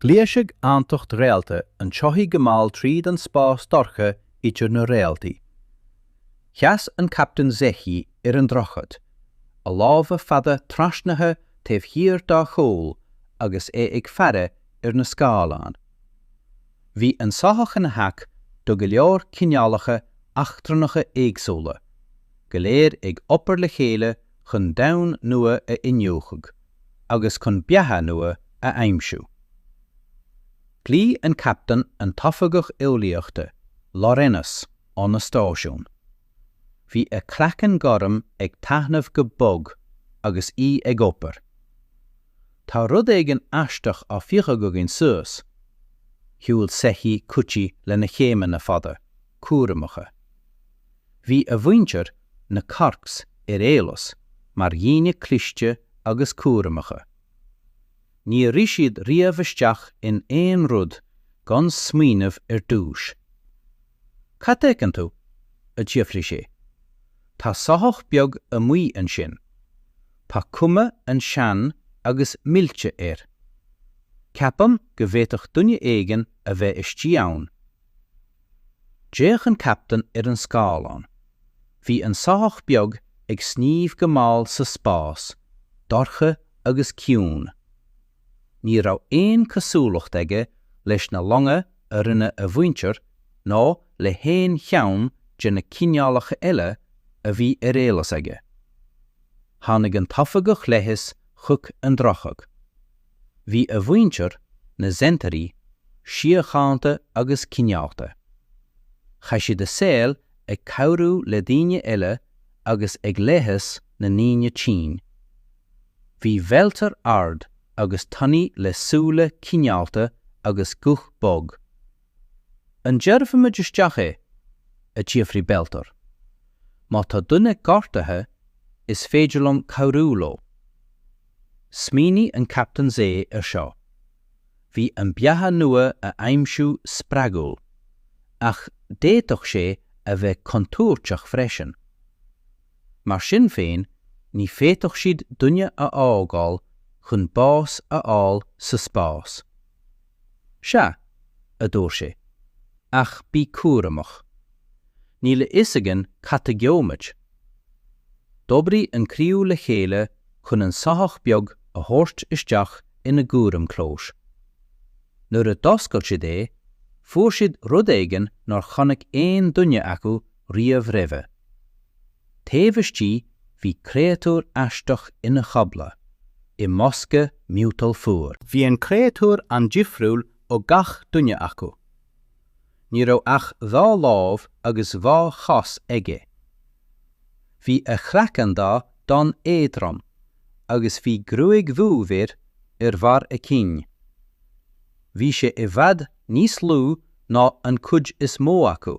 Ghluais an Tacht Réalta an tsoithigh go mall tríd an spás dorcha idir na réaltaí. Sheas an Captaen Zecchi ar an droichead, a lámha fada trasnaithe taobh thiar dá chúl agus é ag faire ar na scáileáin. Bhí an soitheach ina theach do go leor cineálacha eachtrannacha éagsúla, go léir ag obair le chéile chun domhan nua a iniúchadh agus chun beatha nua a aimsiú. "A Chaptaein," ghlaoigh an tOifigeach Eolaíochta, Laurenos, óna stáisiún. Bhí a craiceann gorm ag taithneamh go bog agus í ag obair. Tá rud éigin aisteach á phiocadh againn suas. Shiúil Zecchi chuici lena céimeanna fada, cúramacha. Bhí a mhuintir, na Corks, ar eolas mar dhaoine cliste agus cúramacha. Níor rith siad riamh isteach in aon rud gan smaoineamh ar dtús. Cad a fheiceann tú? a d'fhiafraigh sé. Tá soitheach beag amuigh ansin. Tá cuma an-sean agus millte air. Ceapaim go bhféadfadh duine éigin a bheith istigh ann. D'fhéach an captaen ar an scáileán. Bhí an soitheach beag ag sníomh go mall sa spás, dorcha agus ciúin. Ní raibh aon cosúlacht aige leis na longa a rinne a mhuintir ná le haon cheann de na cineálacha eile a bhí ar eolas aige. Tháinig an t-oifigeach leighis chuig an droichead. Bhí a mhuintir, na Zenterii, síochánta agus cineálta. Chaith siad a saol ag cabhrú le daoine eile agus ag leigheas na ndaoine tinn. Bhí Belter ard agus tanaí le súile cineálta agus guth bog. An dtabharfaimid isteach é? a d'fhiafraigh Belter. Má tá duine gortaithe, is féidir liom cabhrú leo. Smaoinigh an Captaen Zé ar seo. Bhí an beatha nua a aimsiú spreagúil, ach d'fhéadfadh sé a bheith contúirteach freisin. Mar sin féin, ní féadfadh siad duine a fhágáil chun bás a fháil sa spás. 'Sea, a dúirt sé, 'ach bí cúramach. Níl a fhios againn cad a gheobhaimid. D'oibrigh an criú le chéile chun an soitheach beag a thabhairt isteach ina gcúram clóis. Nuair a d'oscail siad é, fuair siad rud éigin nár chonaic aon duine acu riamh roimhe. Taobh istigh bhí créatúr aisteach ina chodladh i mbosca miotail fuar. Bhí an créatúr an-difriúil ó gach duine acu. Ní raibh ach dhá lámh agus dhá chos aige. Bhí a chraiceann donn éadrom agus bhí gruaig dhubh air ar bharr a chinn. Bhí sé i bhfad níos lú ná an chuid is mó acu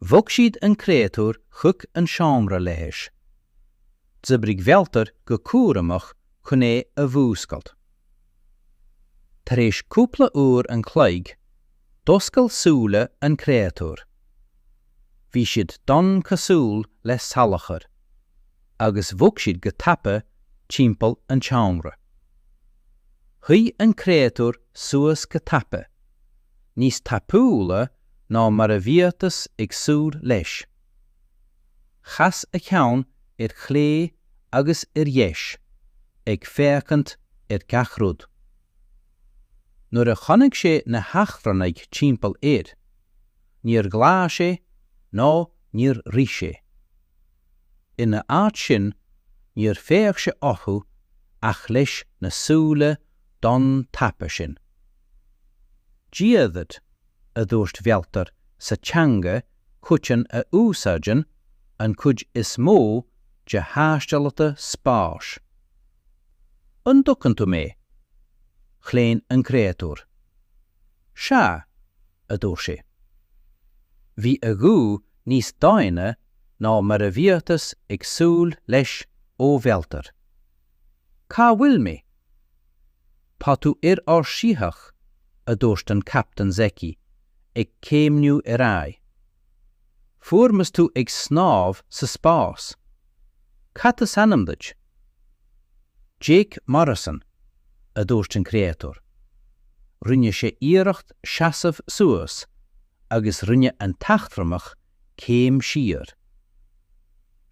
Bhog siad an créatúr chuig an seomra leighis. D'oibrigh Bhealtair go cúramach chun é a mhúscailt. Tar éis cúpla uair an chloig, d'oscail súile an créatúr. Bhí siad donn cosúil le salachar, agus bhog siad go tapa timpeall an tseomra. Shuigh an créatúr suas go tapa. níos tapúla ná mar a bhíothas ag súil leis. Chas a cheann ar chlé agus ar dheis, ag féachaint ar gach rud. Nuair a chonaic sé na heachrannaigh timpeall air, níor ghlaigh sé ná níor rith sé. Ina áit sin, níor fhéach sé orthu ach leis na súile donn tapa sin. Dia dhuit, a dúirt Bhealtair sa teanga choiteann a úsáideann an chuid is mó de thaistealaithe spáis. An dtuigeann tú mé? Chlaon an créatúr. Sea, a dúirt sé. Bhí a ghuth níos doimhne ná mar a bhíothas ag súil leis ó Bhealtair. Cá bhfuil mé? Tá tú ar ár shoitheach, a dúirt an Captaen Zecchi, ag céimniú ar aghaidh. Fuaireamar tú ag snámh sa spás. Cad is ainm duit? Jake Morrison, a dúirt an créatúr. Rinne sé iarracht seasamh suas agus rinne an t-eachtrannach céim siar.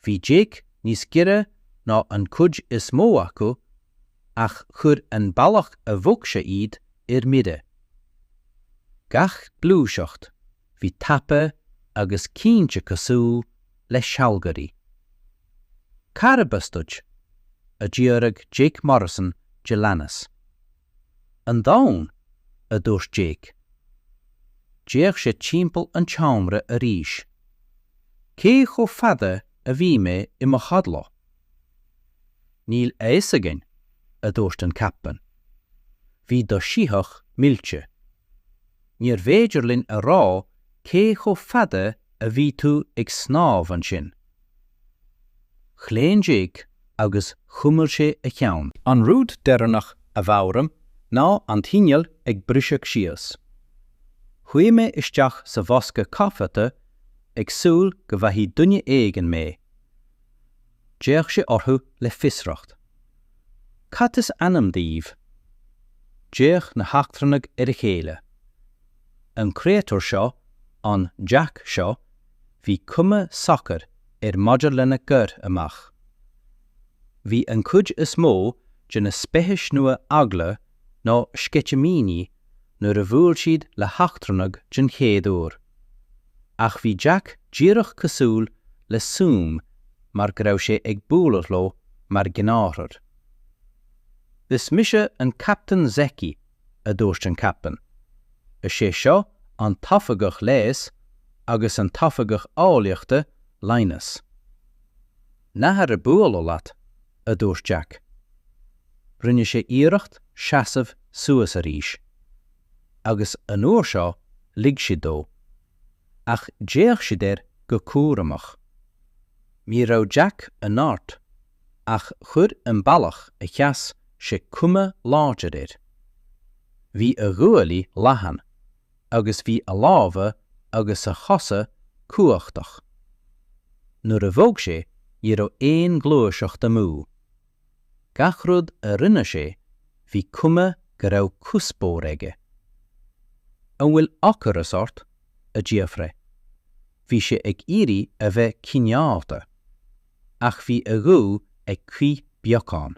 Bhí Jake níos giorra ná an cuid is mó acu ach chuir an bealach a bhog sé iad ar mire. Gach gluaiseacht! bhí tapa agus cinnte cosúil le sealgairí. Carb as duit? a d'fhiafraigh Jake Morrison de leanas. An Domhan, a dúirt Jake. D'fhéach sé timpeall an tseomra arís. Cé chomh fada a bhí mé i mo chodladh? Níl a fhios againn, a dúirt an captaen. Bhí do shoitheach millte. Níorbh fhéidir linn a rá cé chomh fada a bhí tú ag snámh ansin. Chlaon Jack agus chuimil sé a cheann. An rud deireanach a mheabhraim ná an t-inneall ag briseadh síos. Chuaigh mé isteach sa bhosca caifeacha ag súil go bhfaighidh duine éigin mé. D'fhéach sé orthu le fiosracht. Cad is ainm daoibh? D'fhéach na heachtrannaigh ar a chéile. An créatúr seo, an Jack seo, bhí cuma socair air maidir lena gcur amach. Bhí an chuid is mó de na speicis nua eagla nó sceitimíní nuair a bhuail siad le heachtrannaigh den chéad uair. Ach bhí Jack díreach cosúil le suim mar go raibh sé ag bualadh leo mar ghnáthrud. Is mise an Captaen Zeki, a dúirt an Captaen. Is é seo an tOifigeach Leighis agus an tOifigeach Eolaíochta, Linus. An-áthas orm bualadh leat, a dúirt Jack. Rinne sé iarracht seasamh suas arís. Agus an uair seo lig siad dó. Ach d'fhéach siad air go cúramach. Ní raibh Jack an-ard ach chuir an bealach a sheas sé cuma láidir air. Bhí a ghuaillí leathan. agus bhí a lámha agus a chosa cumhachtach. Nuair a bhog sé ní raibh aon ghluaiseacht amú. Gach rud a rinne sé bhí cuma go raibh cuspóir aige. An bhfuil ocras ort? a d'fhiafraigh. Bhí sé ag iarraidh a bheith cineálta. ach bhí a ghuth ag crith beagán.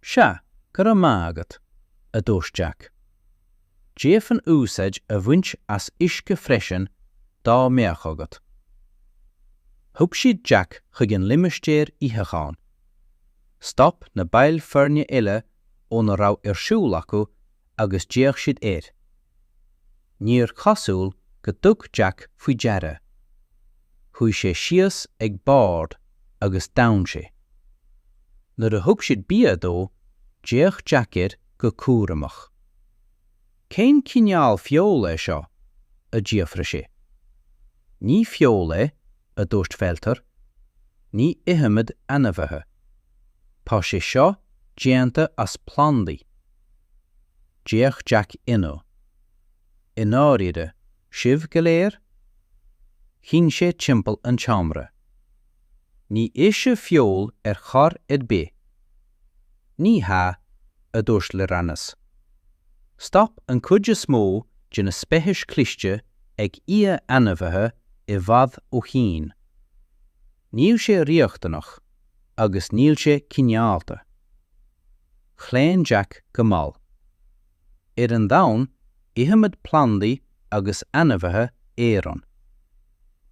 Sea, go raibh maith agat, a dúirt Jack. D'fhéadfainn úsáid a bhaint as uisce freisin dá mbeadh agat. Thug siad Jack chuig an limistéar itheacháin. Stop na baill foirne eile óna raibh ar siúl acu agus d'fhéach siad air. Níor chosúil gur thug Jack faoi deara. Shuigh sé síos ag bord agus d'fhan sé. Nuair a thug siad bia dó, d'fhéach Jack air go cúramach. Cén cineál feola é seo? a d'fhiafraigh sé. Ní feoil é, a dúirt Felter. Ní ithimid ainmhithe. Tá sé seo déanta as plandaí. D'fhéach Jake ionadh. I ndáiríre? Sibh go léir? Shín sé timpeall an tseomra. Ní itheann sibh feoil ar chor ar bith! Ní hea, a dúirt Lyranes. Stop an chuid is mó de na speicis chliste ag ithe ainmhithe i bhfad ó shín. Níl sé riachtanach agus níl sé cineálta. Chlaon Jake go mall. Ar an domhan ithimid plandaí agus ainmhithe araon.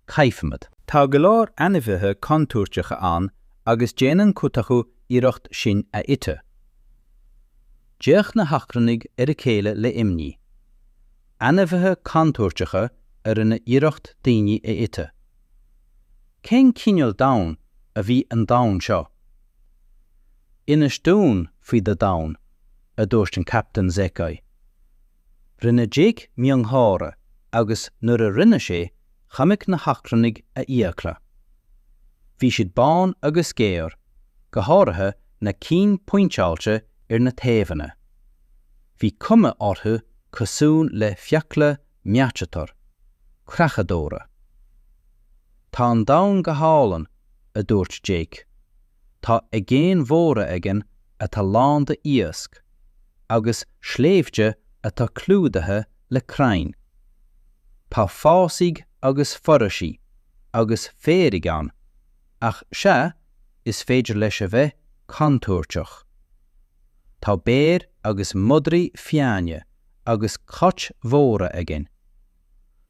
Caithimid. Tá go leor ainmhithe contúirteacha ann agus déanann cuid acu iarracht sinn a ithe. D'fhéach na heachtrannaigh ar a chéile le imní. Ainmhithe contúirteacha a rinne iarracht daoine a ithe. Cén cineál domhain a bhí an domhan seo? Inis dúinn faoi do dhomhan, a dúirt an Captaen Zekai. Rinne Jake miongháire agus nuair a rinne sé, chonaic na heachtrannaigh a fhiacla. Bhí siad bán agus géar, go háirithe na cinn pointeáilte ar na taobhanna. Bhí cuma orthu cosúil le fiacla Meachatar, creachadóra. Tá an domhan go hálainn, a dúirt Jake. Tá aigéin mhóra againn atá lán de iasc, agus sléibhte atá clúdaithe le crainn. Tá fásaigh agus foraoisí agus féaraigh ann, ach sea, is féidir leis a bheith contúirteach. Tá béir agus madraí fiáine agus cait mhóra againn.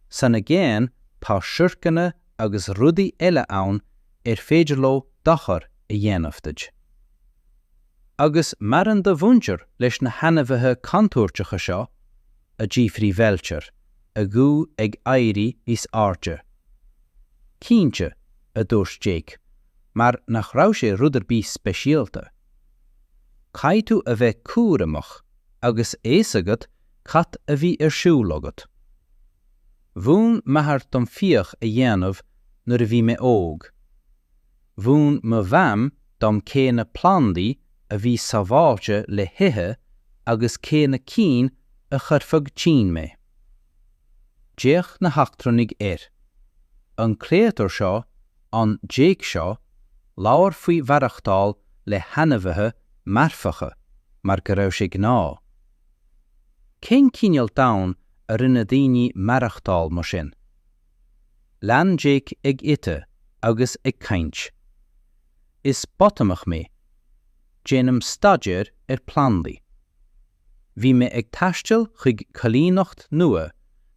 San aigéan tá siorcanna agus rudaí eile ann ar féidir leo dochar a dhéanamh duit. Agus maireann do mhuintir leis na hainmhithe contúirteacha seo? a d'fhiafraigh Veltar, a ghuth ag éirí níos airde. Cinnte, a dúirt Jake, mar nach raibh sé rud ar bith speisialta. Caithfidh tú a bheith cúramach agus fios agat cad a bhí ar siúl agat. Mhúin m'athair dom fiach a dhéanamh nuair a bhí mé óg. Mhúin mo Mham dom cé na plandaí a bhí sábháilte le hithe agus cé na cinn a chuirfeadh tinn mé. D'fhéach na heachtrannaigh air. An créatúr seo ann Jake seo, labhair faoi mhaireachtáil le hainmhithe marfacha mar go raibh sé gnáth. Cén cineál domhain a rinne daoine maireachtáil mar sin? Lean Jake ag ithe agus ag caint. Is botamach mé. Déanaim staidéar ar plandaí. Bhí mé ag taisteal chuig coilíneacht nua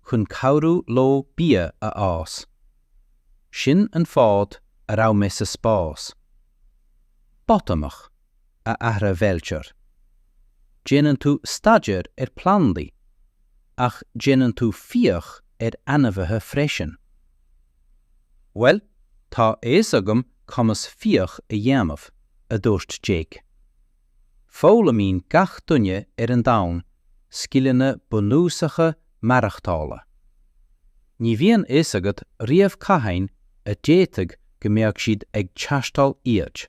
chun cabhrú leo bia a fhás. Sin an fáth a raibh mé sa spás. Botamach, a athraigh Bhelcher. Déanann tú staidéar ar plandaí, ach déanann tú fiach ar ainmhithe freisin. Bhuel, tá a fhios agam conas fiach a dhéanamh, a dúirt Jake. Foghlaimíonn gach duine ar an domhan scileanna bunúsacha maireachtála. Ní bhíonn fhios agat riamh cathain a d'fhéadfadh go mbeadh siad ag teastáil iad.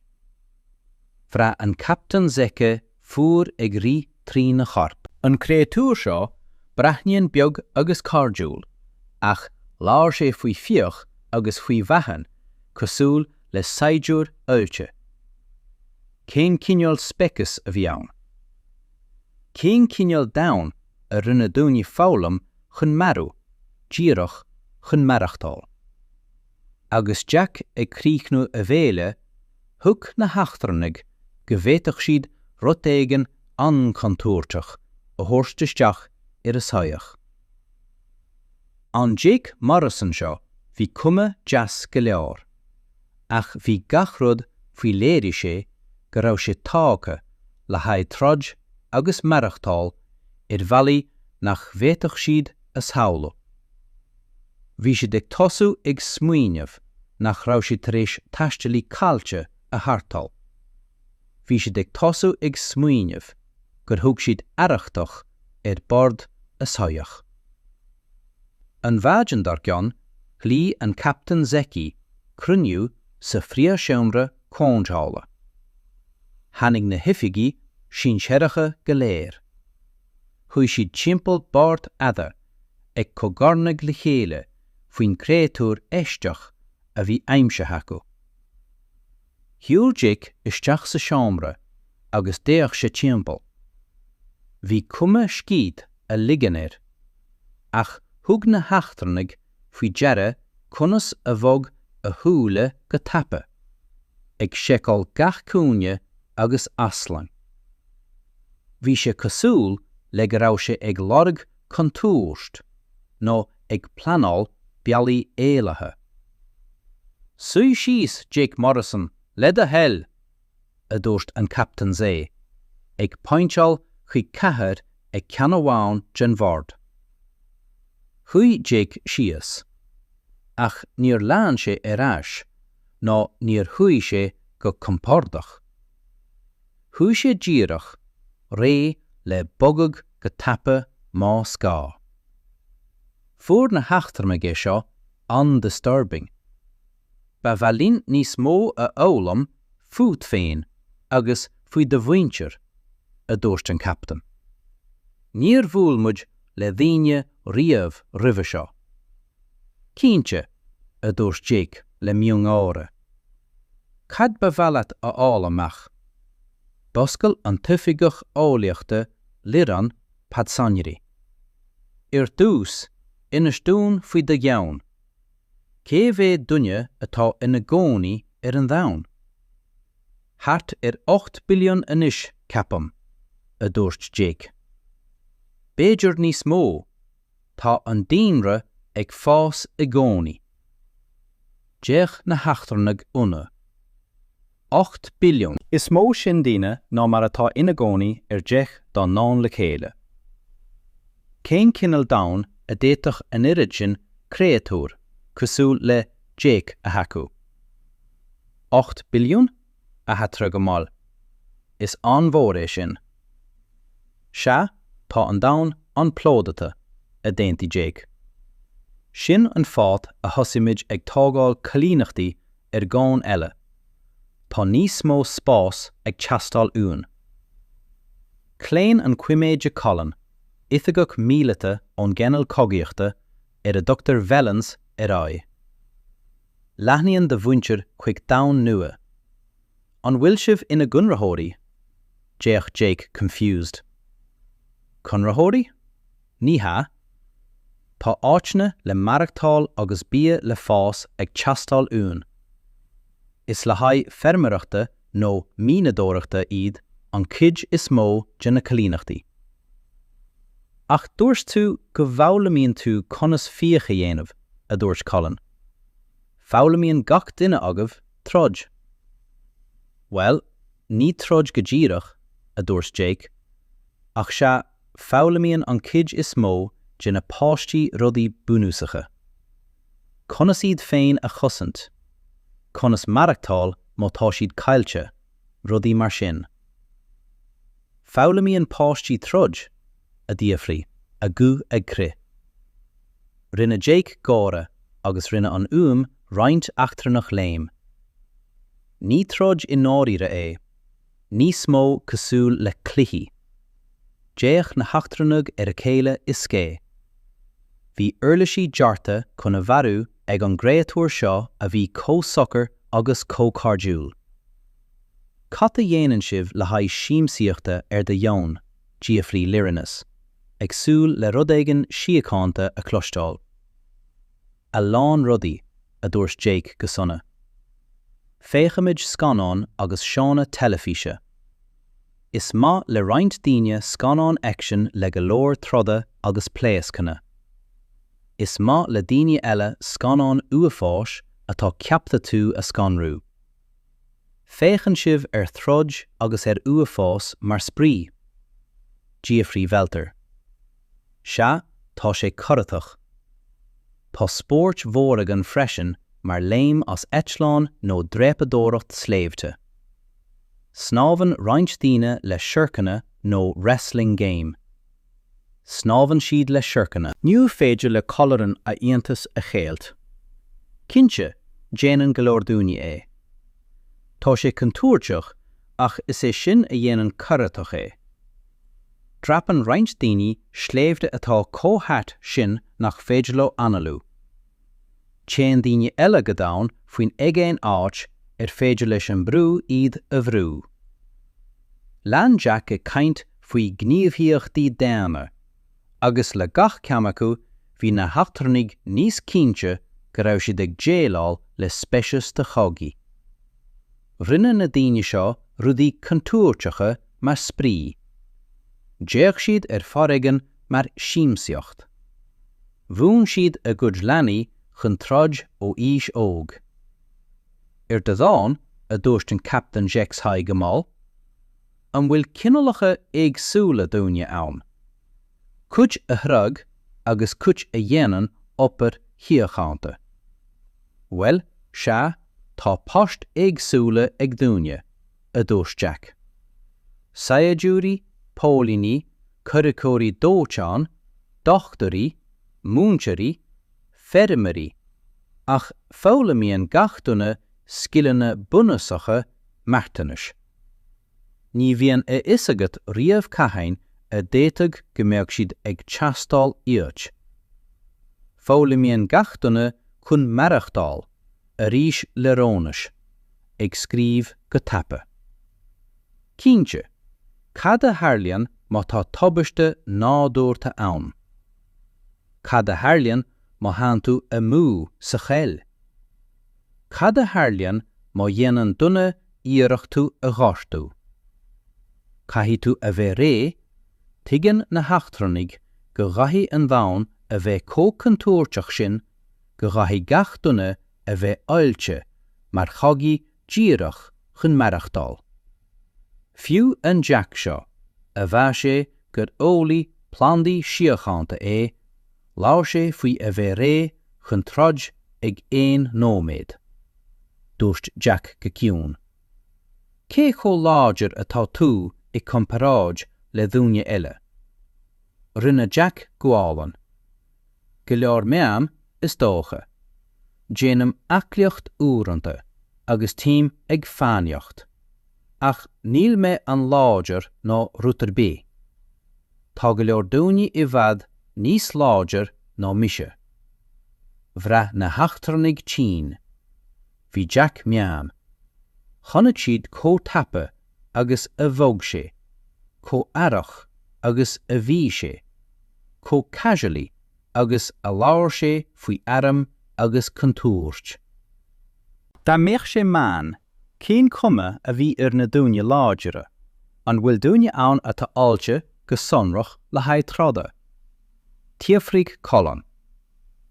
Bhraith an Captaen Zeke fuar ag rith trína chorp. An créatúr seo breathnaíonn beag agus cairdiúil, ach labhair sé faoi fiach agus faoi mharú cosúil le saighdiúir oilte. Cén cineál speiceas a bhí ann? Cén cineál domhain a rinne daoine foghlaim chun marú, díreach chun maireachtáil? Agus Jake ag críochnú a bhéile, thuig na heachtrannaigh go bhféadfadh siad rud éigin an-chontúirteach a thabhairt isteach ar a soitheach. An Jake Morrison seo, bhí cuma deas go leor. ach bhí gach rud faoi léirigh sé go raibh sé tágtha le haghaidh troid agus maireachtáil ar bhealaí nach bhféadfadh siad a shamhlú. Bhí siad ag tosú ag smaoineamh nach raibh siad tar éis taistealaí caillte a tharrtháil. Bhí siad ag tosú ag smaoineamh gur thug siad arrachtach ar bord a soitheach. An mhaidin dar gcionn ghlaoigh an Captaen Zeke cruinniú sa phríomhsheomra comhdhála. Tháinig na hoifigigh sinsearacha go léir. Shuigh siad timpeall bord fada ag cogarnaigh le chéile faoin gcréatúr aisteach a bhí aimsithe acu. Shiúil Jake isteach sa seomra agus d'fhéach sé timpeall. Bhí cuma scíth a ligean air. Ach thug na heachtrannaigh faoi deara conas a bhog a shúile go tapa, ag seiceáil gach cúinne agus easlán. Bhí sé cosúil le go raibh sé ag lorg contúirt nó ag pleanáil bealaí éalaithe. 'Suigh síos, Jake Morrison, le do thoil! a dúirt an Captaen agus é ag pointeáil chuig cathaoir ag ceann amháin den bhord. Shuigh Jake síos, ach níor lean sé ar ais nó níor shuigh sé go compordach. Shuigh sé díreach. réidh le bogadh go tapa más gá. Fuair na heachtrannaigh é seo an-disturbing. Ba mhaith linn níos mó a fhoghlaim fút féin agus faoi do mhuintir, a dúirt an captaen. Níor bhuail muid le daoine riamh roimhe seo, Cinnte, a dúirt Jake le miongháire. Cad ba mhaith leat a fháil amach? D'oscail an t-oifigeach eolaíochta Liron Patzonjri. Ar dtús, inis dúinn faoi do dhomhan. Cé mhéad duine atá ina gcónaí ar an Domhan? Thart ar ocht billiún anois, ceapaim, a dúirt Jake. B'fhéidir níos mó. Tá an daonra ag fás i gcónaí. D'fhéach na heachtrannaigh ionaidh. Ocht billiún. Is mó sin daoine ná mar atá ina gcónaí ar dheich dá ndomhan le chéile. Cén cineál domhain a d'fhéadfadh an oiread sin créatúr cosúil le Jake a thacú? Ocht billiún? a d'athrá go mall. Is an-mhór é sin. Sea, tá an domhan an-phlódaithe, a d'aontaigh Jake. Sin an fáth a thosaigh muid ag tógáil coilíneachtaí ar dhomhain eile. Tá níos mó spáis ag teastáil uainn. Chlaon an Coiméide Colin, oifigeach míleata ón gcineál Cogaíochta ar a dtugtar Velans, ar aghaidh. Leathnaíonn do mhuintir chuig domhain nua. An bhfuil sibh ina gconraitheoirí? d'fhéach Jake confused. Conraitheoirí? Ní hea. Tá áiteanna le maireachtáil agus bia le fás ag teastáil uainn. Is le haghaidh feirmeoireachta nó mianadóireachta iad an chuid is mó de na coilíneachtaí. Ach dúirt tú go bhfoghlaimíonn tú conas fiach a dhéanamh, a dúirt Colin. Foghlaimíonn gach duine agaibh troid. Bhuel, ní troid go díreach, a dúirt Jake, ach sea, foghlaimíonn an cuid is mó de na páistí rudaí bunúsacha. Conas iad féin a chosaint, conas maireachtáil má tá siad caillte, rudaí mar sin. Foghlaimíonn páistí troid? a d'fhiafraigh a guth ag crith. Rinne Jake gáire agus rinne an fhuaim roinnt eachtrannach léim. Ní troid i ndáiríre é, níos mó cosúil le cluichí. D'fhéach na heachtrannaigh ar a chéile i scéin. Bhí uirlisí dearta chun a mharú ag an gcréatúr seo a bhí chomh socair agus chomh cairdiúil. Cad a dhéanann sibh le haghaidh siamsaíochta ar do dhomhan? d'fhiafraigh Lyrinus, ag súil le rud éigin síochánta a chloisteáil. A lán rudaí, a dúirt Jake go sona. Féachaimid scannáin agus seónna teilifíse. Is maith le roinnt daoine scannáin aicsin le go leor troda agus pléascanna. Is maith le daoine eile scannáin uafáis atá ceaptha tú a scanrú. Féachann sibh ar throid agus ar uafás mar spraoi? d'fhiafraigh Welter. Sea, tá sé corraitheach. Tá spóirt mhóra againn freisin mar léim as eitleán nó dreapadóireacht sléibhte. Snámhann roinnt daoine le siorcanna nó 'wrestling game'. Snámhann siad le siorcanna. Ní féidir le Colaireain a iontas a cheilt. Cinnte, déanann go leor daoine é. Tá sé contúirteach ach is é sin a dhéanann corraitheach é. Dreapann roinnt daoine sléibhte atá chomh hard sin nach féidir leo análú. Téann daoine eile go domhain faoin aigéan áit ar féidir leis an mbrú iad a bhrú. Lean Jake ag caint faoi ghníomhaíochtaí daonna, agus le gach ceann acu bhí na heachtrannaigh níos cinnte go raibh siad ag déileáil le speiceas de chogaithe. Rinne na daoine seo rudaí contúirteacha mar spraoi. D'fhéach siad ar fhoréigean mar siamsaíocht. Mhúin siad a gcuid leanaí chun troid ó aois óg. Ar do dhomhan, a dúirt an Captaen Zexhai go mall. An bhfuil cineálacha éagsúla daoine ann? Cuid a throid agus cuid a dhéanann obair shíochánta. Bhuel, sea, tá poist éagsúla ag daoine. a dúirt Jake. Saighdiúirí, póilíní, comhraiceoirí dóiteáin, dochtúirí, múinteoirí, feirmeoirí, ach foghlaimíonn gach duine scileanna bunúsacha marthanais. Ní bhíonn a fhios agat riamh cathain a d'fhéadfadh go mbeadh siad ag teastáil uait. Foghlaimíonn gach duine chun maireachtáil. arís le Ronas ag scríobh go tapa. Cinnte, cad a tharlaíonn má tá tubaiste nádúrtha ann? Cad a tharlaíonn má théann tú amú sa choill? Cad a tharlaíonn má dhéanann duine iarracht tú a ghortú? Caithfidh tú a bheith réidh, tuigeann na heachtrannaigh go gcaithfidh an domhan a bheith chomh contúirteach sin go gcaithfidh gach duine a bheith oilte mar chogaí díreach chun maireachtáil. Fiú an Jack seo, a mhaígh sé gur eolaí plandaí síochánta é, labhair sé faoi a bheith réidh chun troid ag aon nóiméad. Dúirt Jack go ciúin, Cé chomh láidir atá tú i gcomparáid le dhaoine eile? Rinne Jack gualainn. Go leor meán, is dócha. Déanaim aclaíocht uaireanta agus téim ag fánaíocht. Ach níl mé an-láidir nó rud ar bith. Tá go leor daoine i bhfad níos láidir ná mise. Bhraith na heachtrannaigh tinn. Bhí Jack meán. Chonaic siad chomh tapa agus a bhog sé, chomh aireach agus a bhí sé, chomh casually agus a labhair sé faoi airm agus contúirt. Dá mbeadh sé meán, cén chuma a bhí ar na daoine láidire? An bhfuil daoine ann atá oilte go sonrach le haghaidh troda? d'fhiafraigh Colin.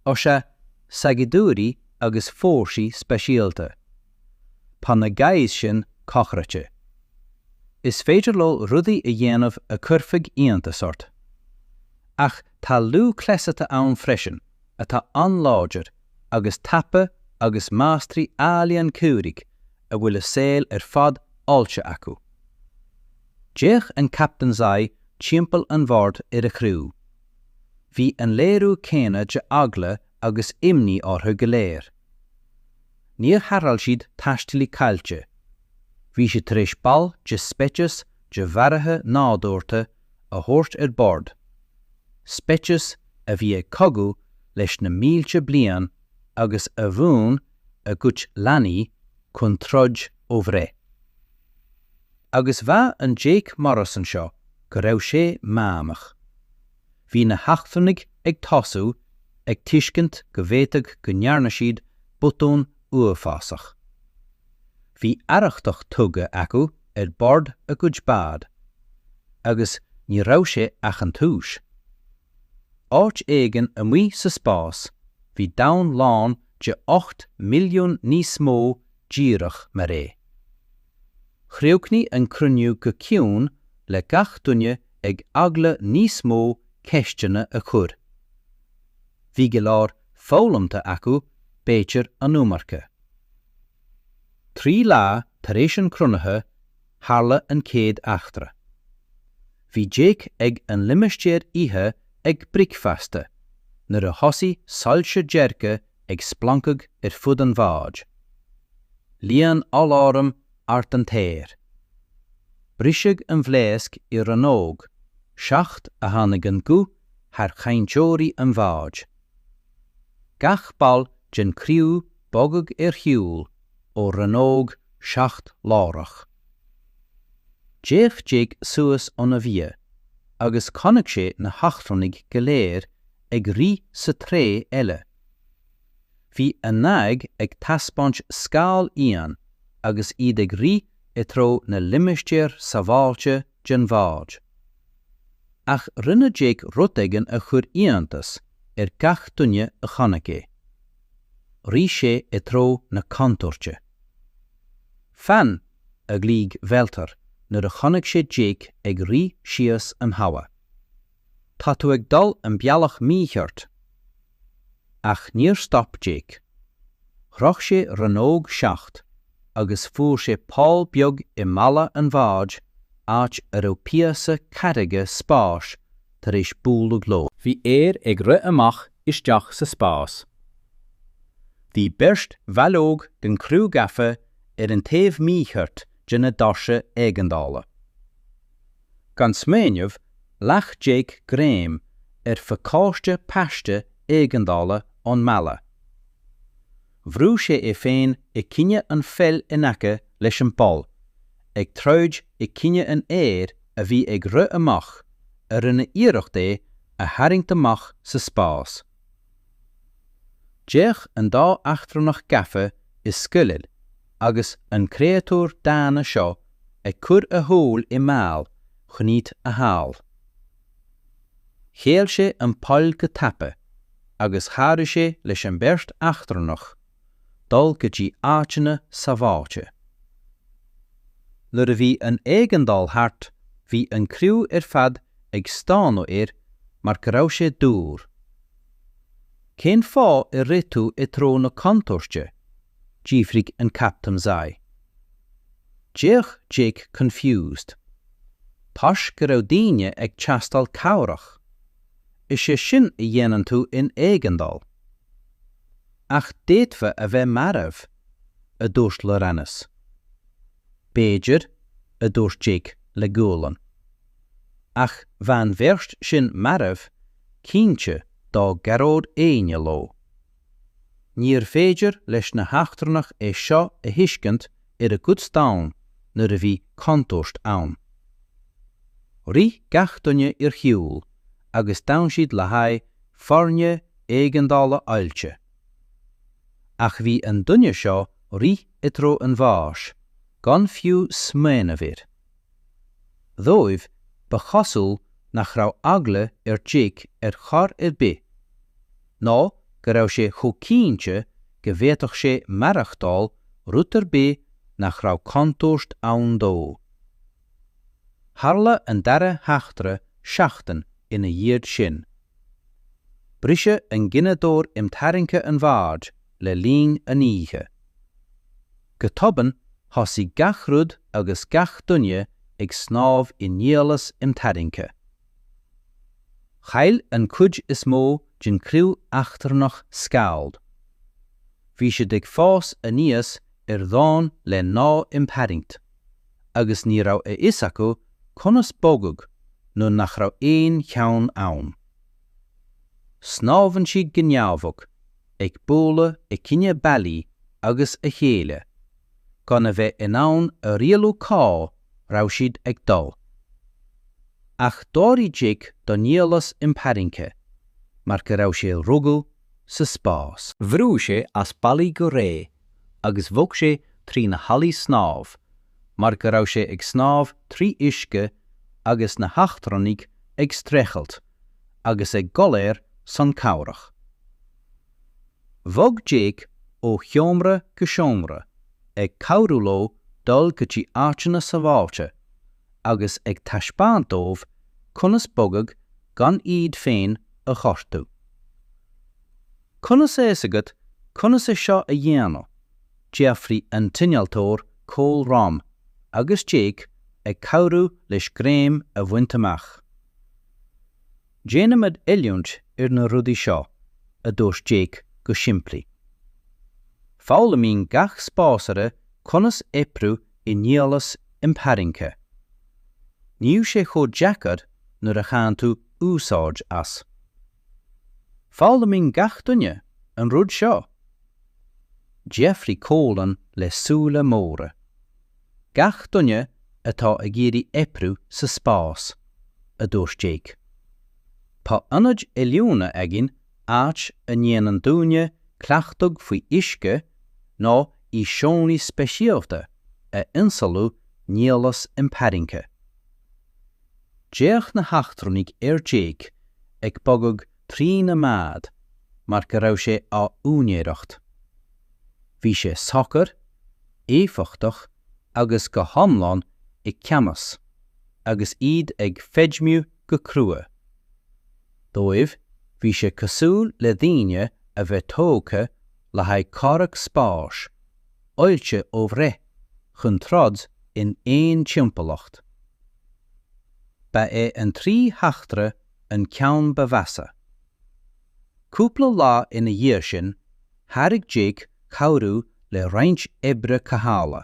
Ó sea, saighdiúirí agus fórsaí speisialta. Tá na guys sin cochraite. Is féidir leo rudaí a dhéanamh a chuirfeadh iontas ort. Ach tá lúthchleasaithe ann freisin atá an-láidir agus tapa agus máistrí ealaíon comhraic a bhfuil a saol ar fad oilte acu. D'fhéach an Captain Zai timpeall an bhoird ar a chriú. Bhí an léiriú céanna de eagla agus imní orthu go léir. níor tharrtháil siad taistealaí caillte, bhí siad tar éis ball de speiceas de mharaithe nádúrtha a thabhairt ar bord, speiceas a bhí ag cogadh leis na mílte bliain agus a mhúin a gcuid leanaí chun troid ó bhreith. Agus mhaígh an Jake Morrison seo go raibh sé meánach. bhí na heachtrannaigh ag tosú ag tuiscint go bhféadfadh go ndearna siad botún uafásach. Bhí arrachtach tugtha acu ar bord a gcuid bád, agus ní raibh sé ach an tús. Áit éigin amuigh sa spás bhí domhan lán de 8 mbilliún níos mó díreach mar é. Chríochnaigh an cruinniú go ciúin le gach duine ag eagla níos mó ceisteanna a chur. Bhí go leor foghlamtha acu b'fhéidir an iomarca. Trí lá tar éis an chruinnithe tharla an chéad eachtra. Bhí Jake ag an limistéar ithe ag bricfeasta nuair a thosaigh soilse dearga ag splancadh ar fud an bháid. Líon aláram ard an t-aer. Briseadh an bhlaosc i rannóg 7 a tháinig an guth thar chainteoirí an bháid. Gach ball den chriú bogadh ar shiúl ó rannóg 7 láithreach. D'fhéach Jake suas óna bhia agus chonaic sé na heachtrannaigh go léir ag rith sa treo eile. Bhí a n-aghaidh ag taispeáint scaoll íon agus iad ag rith i dtreo na limistéar sábháilte den bhád. Ach rinne Jake rud éigin a chuir iontas ar gach duine a chonaic é. Rith sé i dtreo na contúirte. 'Fan! a ghlaoigh Walter nuair a chonaic sé Jake ag rith síos an halla. Tá tú ag dul an bealach mícheart! Ach níor stop Jake. Shroich sé rannóg 7 agus fuair sé poll beag i mballa an bháid áit a raibh píosa carraige spáis tar éis bualadh leo. Bhí aer ag rith amach isteach sa spás. Bhí beirt bhall óg den chriú gafa ar an taobh mícheart de na doirse éigeandála. gan smaoineamh, ghlac Jake greim ar phacáiste paiste éigeandála ón mballa. Bhrú sé é féin i gcoinne an phoill in aice leis an bpoll, ag troid i gcoinne an aeir a bhí ag rith amach, a rinne iarracht é a tharraingt amach sa spás. D'fhéach an dá eachtrannach gafa i sceimhle agus an créatúr dána seo ag cur a shaol i mbaol chun iad a shábháil. Shéal sé an poll go tapa agus chabhraigh sé leis an beirt eachtrannach. dul go dtí áiteanna sábháilte. Nuair a bhí an éigeandáil thart bhí an criú ar fad ag stánadh air mar go raibh sé dúr. Cén fáth ar rith tú i dtreo na contúirte? d'fhiafraigh an captaen Zai. D'fhéach Jake confused. Toisc go raibh daoine ag teastáil cabhrach. Is é sin a dhéanann tú in éigeandáil. Ach d'fhéadfá a bheith marbh, a dúirt Laurynas. B'fhéidir, a dúirt Jake le gualainn. Ach bheadh an bheirt sin marbh, cinnte, dá gcabhródh éinne leo. Níorbh féidir leis na heachtrannaigh é seo a thuiscint. Ar a gcuid domhan, nuair a bhí contúirt ann, rith gach duine ar shiúl. agus d'fhan siad le haghaidh foirne éigeandála oilte. Ach bhí an duine seo rith i dtreo an bháis, gan fiú smaoineamh air. Dhóibh, ba chosúil nach raibh eagla ar Jake ar chor ar bith, nó go raibh sé chomh cinnte go bhféadfadh sé maireachtáil rud ar bith nach raibh contúirt ann dó. Tharla an dara heachtra seachtain ina dhiaidh sin. Briseadh an gineadóir imtharraingthe an bhoird le linn an oíche. Go tobann thosaigh gach rud agus gach duine ag snámh i nialas imtharraingthe. Chaill an cuid is mó den chriú eachtrannach Scald. Bhí siad ag fás aníos ar dhomhain le gnáth-imtharraingt, agus ní raibh a fhios acu conas bogadh nuair nach raibh aon cheann ann. Snámhann siad go neamhbhocht, ag bualadh i gcoinne ballaí agus a chéile, gan a bheith in ann a rialú cá raibh siad ag dul. Ach d'éirigh Jake do nialas imtharraingthe mar go raibh sé rugadh sa spás. Bhrúigh sé as ballaí go réidh agus bhog sé trí na hallaí snámh mar go raibh sé ag snámh trí uisce agus na heachtrannaigh ag streachailt agus ag gol ar son cabhrach. Bhog Jake ó sheomra go seomra ag cabhrú leo dul go dtí áiteanna sábháilte agus ag taispeáint dóibh conas bogadh gan iad féin a ghortú. Conas a fhios agat conas é seo a dhéanamh? d'fhiafraigh an t-innealtóir Cole Rom agus Jake ag cabhrú leis greim a bhaint amach. Déanaimid oiliúint ar na rudaí seo, a dúirt Jake go simplí. Foghlaimíonn gach spásaire conas oibriú i nialas imtharraingthe. Níl sé chomh deacair nuair a bhaineann tú úsáid as. Foghlaimíonn gach duine an rud seo! D'fhiafraigh Cóilin le súile móra. Gach duine atá ag iarraidh oibriú sa spás, a dúirt Jake. Tá ionaid oiliúna againn áit a ndéanann daoine cleachtadh faoi uisce nó i seomraí speisialta a ionsamhlaíonn nialas imtharraingthe. D'fhéach na heachtrannaigh ar Jake ag bogadh trína mbád mar go raibh sé á úinéireacht. Bhí sé socair, éifeachtach agus go hiomlán i gceannas agus iad ag feidhmiú go crua. Dóibh bhí sé cosúil le daoine a bheith tógtha le haghaidh comhrac spáis, oilte ó bhreith chun troid in aon timpeallacht. Ba é an trí heachtra an ceann ba mheasa. Cúpla lá ina dhiaidh sin, thairg Jake cabhrú le roinnt oibre cothabhála.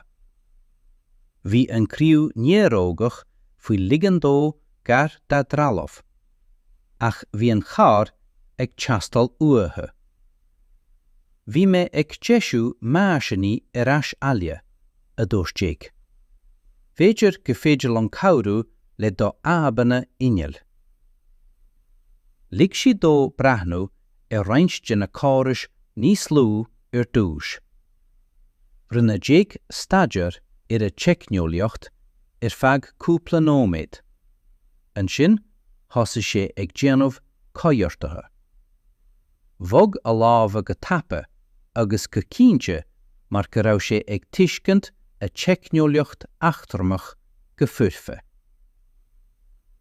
Bhí an criú néarógach faoi ligean dó gar dá dtrealamh, ach bhí an chabhair ag teastáil uathu. Bhí mé ag deisiú meaisíní ar ais abhaile, a dúirt Jake. B'fhéidir go féidir liom cabhrú le do fhadhbanna innill. Lig sí dó breathnú ar roinnt de na córais níos lú ar dtús. Rinne Jake staidéar ar a dteicneolaíocht ar feadh cúpla nóiméad. Ansin thosaigh sé ag déanamh coigeartaithe. bhog a lámha go tapa agus go cinnte mar go raibh sé ag tuiscint a dteicneolaíocht eachtrannach go foirfe.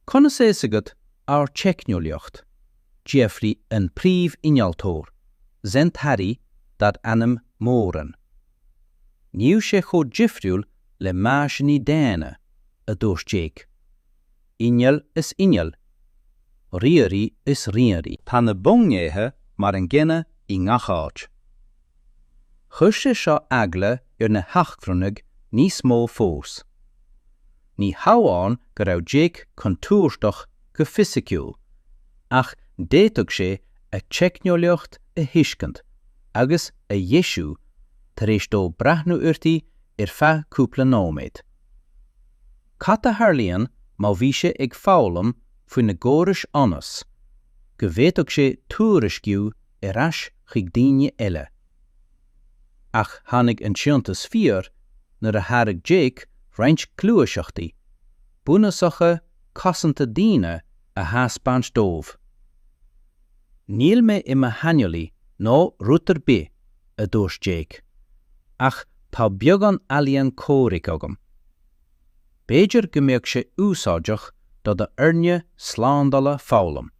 Conas atá a fhios agat ár dteicneolaíocht? d'fhiafraigh an príomhinnealtóir, Zen Tari, darb ainm Moran. Níl sé chomh difriúil le meaisíní daonna, a dúirt Jake. Inneall is inneall. Ríomhairí is ríomhairí. Tá na bunghnéithe mar an gcéanna i ngach áit. Chuir sé seo eagla ar na heachtrannaigh níos mó fós. Ní hamháin go raibh Jake contúirteach go fisiciúil, ach d'fhéadfadh sé a dteicneolaíocht a thuiscint agus a dheisiú tar éis dó breathnú uirthi ar feadh cúpla nóiméad. Cad a tharlaíonn má bhí sé ag foghlaim faoina gcórais ionas go bhféadfadh sé tuairisciú ar ais chuig daoine eile? Ach tháinig an t-iontas fíor nuair a thairg Jake roinnt gluaiseachtaí bunúsacha cosanta daoine a thaispeáint dóibh. Níl mé i mo shaineolaí ná rud ar bith, a dúirt Jake, ach tá beagán ealaíon comhraic agam. B'fhéidir go mbeadh sé úsáideach do d'fhoirne slándála foghlaim.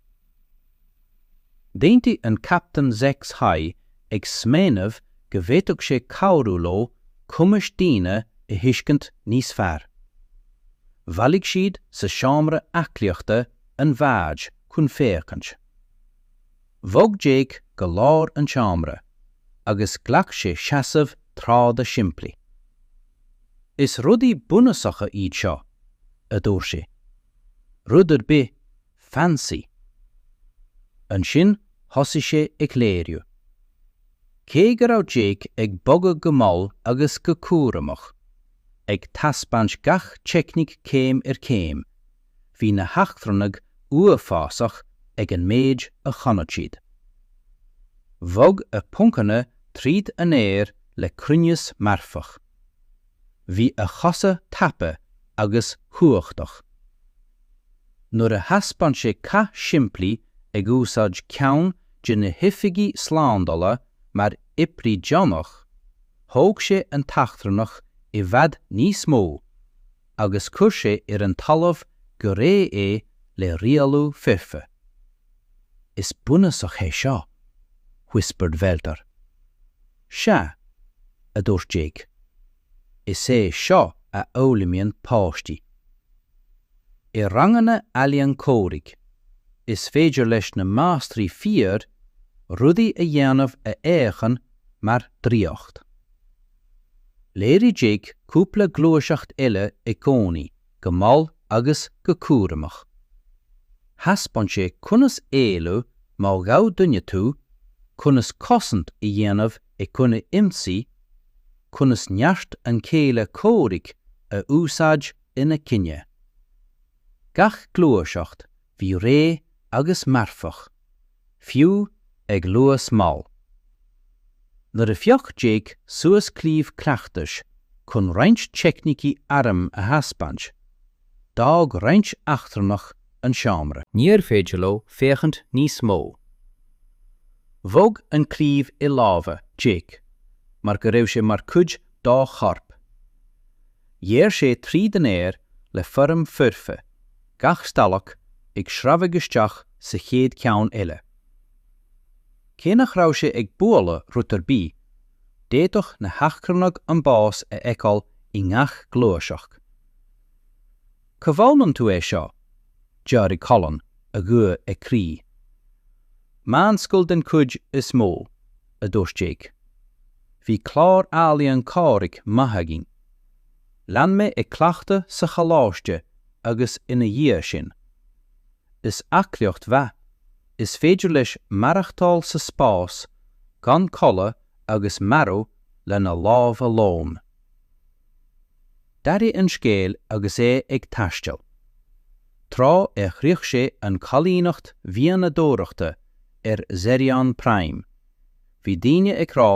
D'aontaigh an captaen Zechs High ag smaoineamh go bhféadfadh sé cabhrú leo cumais daoine a thuiscint níos fearr. Bhailigh siad i seomra aclaíochta an bháid chun féachaint. Bhog Jake go lár an tseomra agus ghlac sé seasamh troda simplí. Is rudaí bunúsacha iad seo, a dúirt sé. Rud ar bith 'fancy'. Ansin thosaigh sé ag léiriú. Cé go raibh Jake ag bogadh go mall agus go cúramach, ag taispeáint gach teicníc céim ar chéim, bhí na heachtrannaigh uafásach ag an méid a chonaic siad. Bhog a phoncanna tríd an aer le cruinneas marfach. Bhí a chasadh tapa agus chumhachtach. Nuair a thaispeáin sé cath simplí ag úsáid ceann de na hoifigigh slándála mar oibrí deonach, thóg sé an t-eachtrannach i bhfad níos mó, agus chuir sé ar an talamh go réidh é le rialú foirfe. Is bunúsach é seo, whispered Werder. Sea, a dúirt Jake. Is é seo a fhoghlaimíonn páistí. I ranganna ealaíon comhraic, is féidir leis na máistrí fíor rudaí a dhéanamh a fhéachann mar draíocht. Léirigh Jake cúpla gluaiseacht eile i gcónaí go mall agus go cúramach. Thaispeáin sé conas éalú má ghabh duine tú, conas cosaint a dhéanamh i gcoinne ionsaí, conas neart an chéile comhraic a úsáid ina gcoinne. Gach gluaiseacht bhí réidh agus marfach. fiú ag luas mall. Nuair a phioc Jake suas claíomh cleachtais chun roinnt teicnící airm a thaispeáint, d'fhág roinnt eachtrannach an seomra. Níorbh féidir leo féachaint níos mó. Bhog an claíomh i lámha Jake mar go raibh sé mar chuid dá chorp. Ghéarr sé tríd an aer le foirm foirfe, gach stailc ag sreabhadh isteach sa chéad cheann eile. Cé nach raibh sé ag bualadh rud ar bith, d'fhéadfadh na heachtrannaigh an bás a fheiceáil i ngach gluaiseacht. 'Cá bhfoghlaim tú é seo? d'fhiafraigh Colin, a ghuth ag crith. 'Meánscoil den chuid is mó, a dúirt Jake. 'Bhí clár ealaíon comhraic maith againn. Lean mé ag cleachtadh sa choláiste agus ina dhiaidh sin. Is aclaíocht mhaith, is féidir leis maireachtáil sa spás gan codladh agus marú lena lámha lom. D'athraigh an scéal agus é ag taisteal. Tráth ar shroich sé an choilíneacht mhianadóireachta ar Zerion Prime, bhí daoine ag rá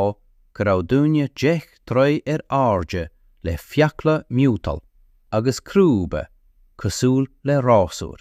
go raibh duine deich dtroigh ar airde le fiacla miotail agus crúba cosúil le rásúir.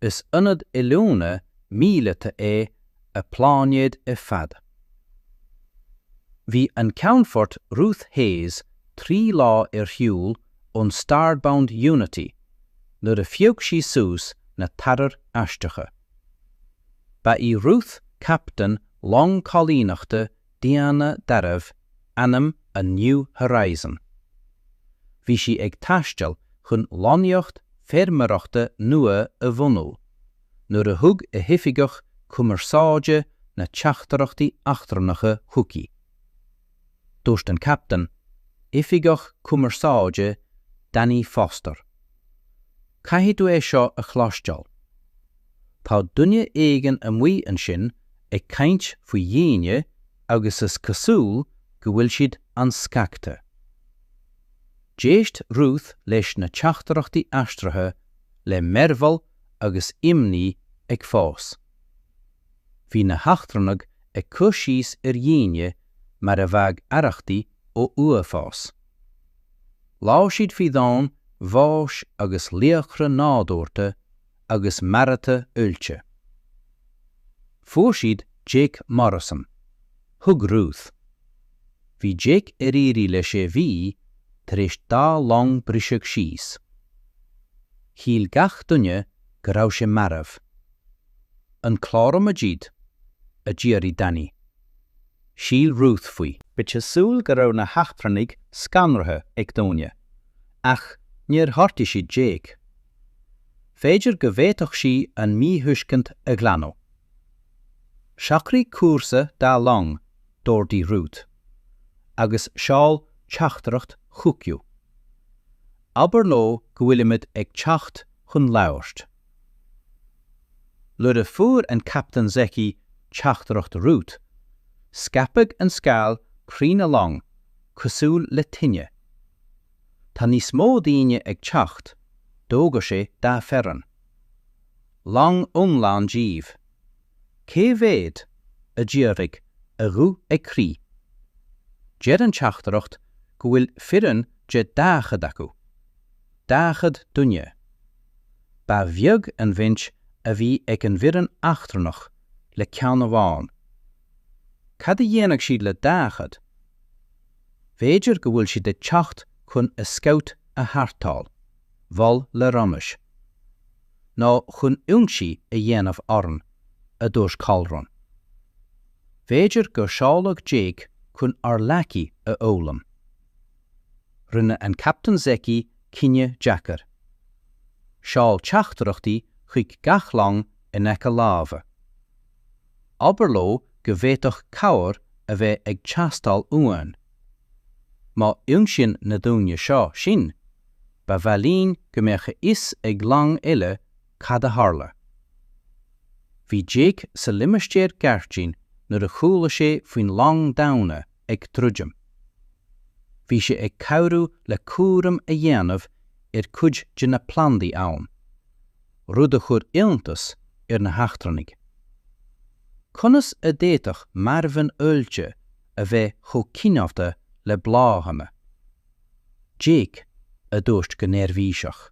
Is ionad oiliúna míleata é an pláinéad ar fad. Bhí an Ceannfort Ruth Hayes trí lá ar shiúl ón Starbound Unity nuair a phioc sí suas na tarchuir aisteacha. Ba í Ruth captaen long coilíneachta daonna darbh ainm an New Horizon. Bhí sí ag taisteal chun lonnaíocht feirmeoireachta nua a bhunú nuair a thug a hoifigeach cumarsáide na teachtaireachtaí eachtrannacha chuici. Dúirt an captaen, Oifigeach Cumarsáide Danny Foster. Caithfidh tú é seo a chloisteáil. Tá duine éigin amuigh ansin ag caint faoi dhaoine agus is cosúil go bhfuil siad an-scagtha. D'éist Ruth leis na teachtaireachtaí aistrithe le mearbhall agus imní ag fás. Bhí na heachtrannaigh ag cur síos ar dhaoine mar a bheadh arrachtaí ó uafás. Labhair siad faoi dhomhain bháis agus laochra nádúrta agus maraithe oilte. Fuair siad Jake Morrison. Thuig Ruth. Bhí Jake ar iarraidh le sé mhí tar éis dá long briseadh síos. Shíl gach duine go raibh sé marbh. An cláróimid iad? a d'fhiafraigh Danny. Shíl Ruth faoi. Ba chosúil go raibh na heachtrannaigh scanraithe ag daoine, ach níor ghortaigh siad Jake. B'fhéidir go bhféadfadh sí an míthuiscint a ghlanadh. Socraigh cúrsa dá long, d'ordaigh Ruth, agus seol teachtaireacht chucu. Abair leo go bhfuilimid ag teacht chun labhairt. Nuair a fuair an Captaen Zecchi teachtaireacht Ruth, scaipeadh an scéal trína long cosúil le tine. Tá níos mó daoine ag teacht, d'fhógair sí dá foireann. Long iomlán díobh. Cé mhéad? a d'fhiafraigh, a ghuth ag crith. Deir an teachtaireacht go bhfuil foireann de 40 acu. 40 duine. Ba bheag an bhaint a bhí ag an bhfoireann eachtrannach le ceann amháin. Cad a dhéanfadh siad le 40? B'fhéidir go bhfuil siad ag teacht chun a scout a tharrtháil, mhol Leromis. Nó chun ionsaí a dhéanamh orainn, a dúirt Colrun. B'fhéidir gur seoladh Jake chun ár laigí a fhoghlaim. Rinne an Captaen Zecchi Cinneadh deacair. Seol teachtaireachtaí chuig gach long in aice láimhe. Abair leo go bhféadfadh cabhair a bheith ag teastáil uainn. Má ionsaíonn na daoine seo sinn, ba mhaith linn go mbeadh a fhios ag longa eile cad a tharla. Bhí Jake sa limistéar gairdín nuair a chuala sé faoin long daonna, ag druidim. Bhí sé ag cabhrú le cúram a dhéanamh ar cuid de na plandaí ann, rud a chuir iontas ar na heachtrannaigh. Conas a d'fhéadfadh marbhán oilte a bheith chomh cineálta le bláthanna? Jake a dúirt go neirbhíseach.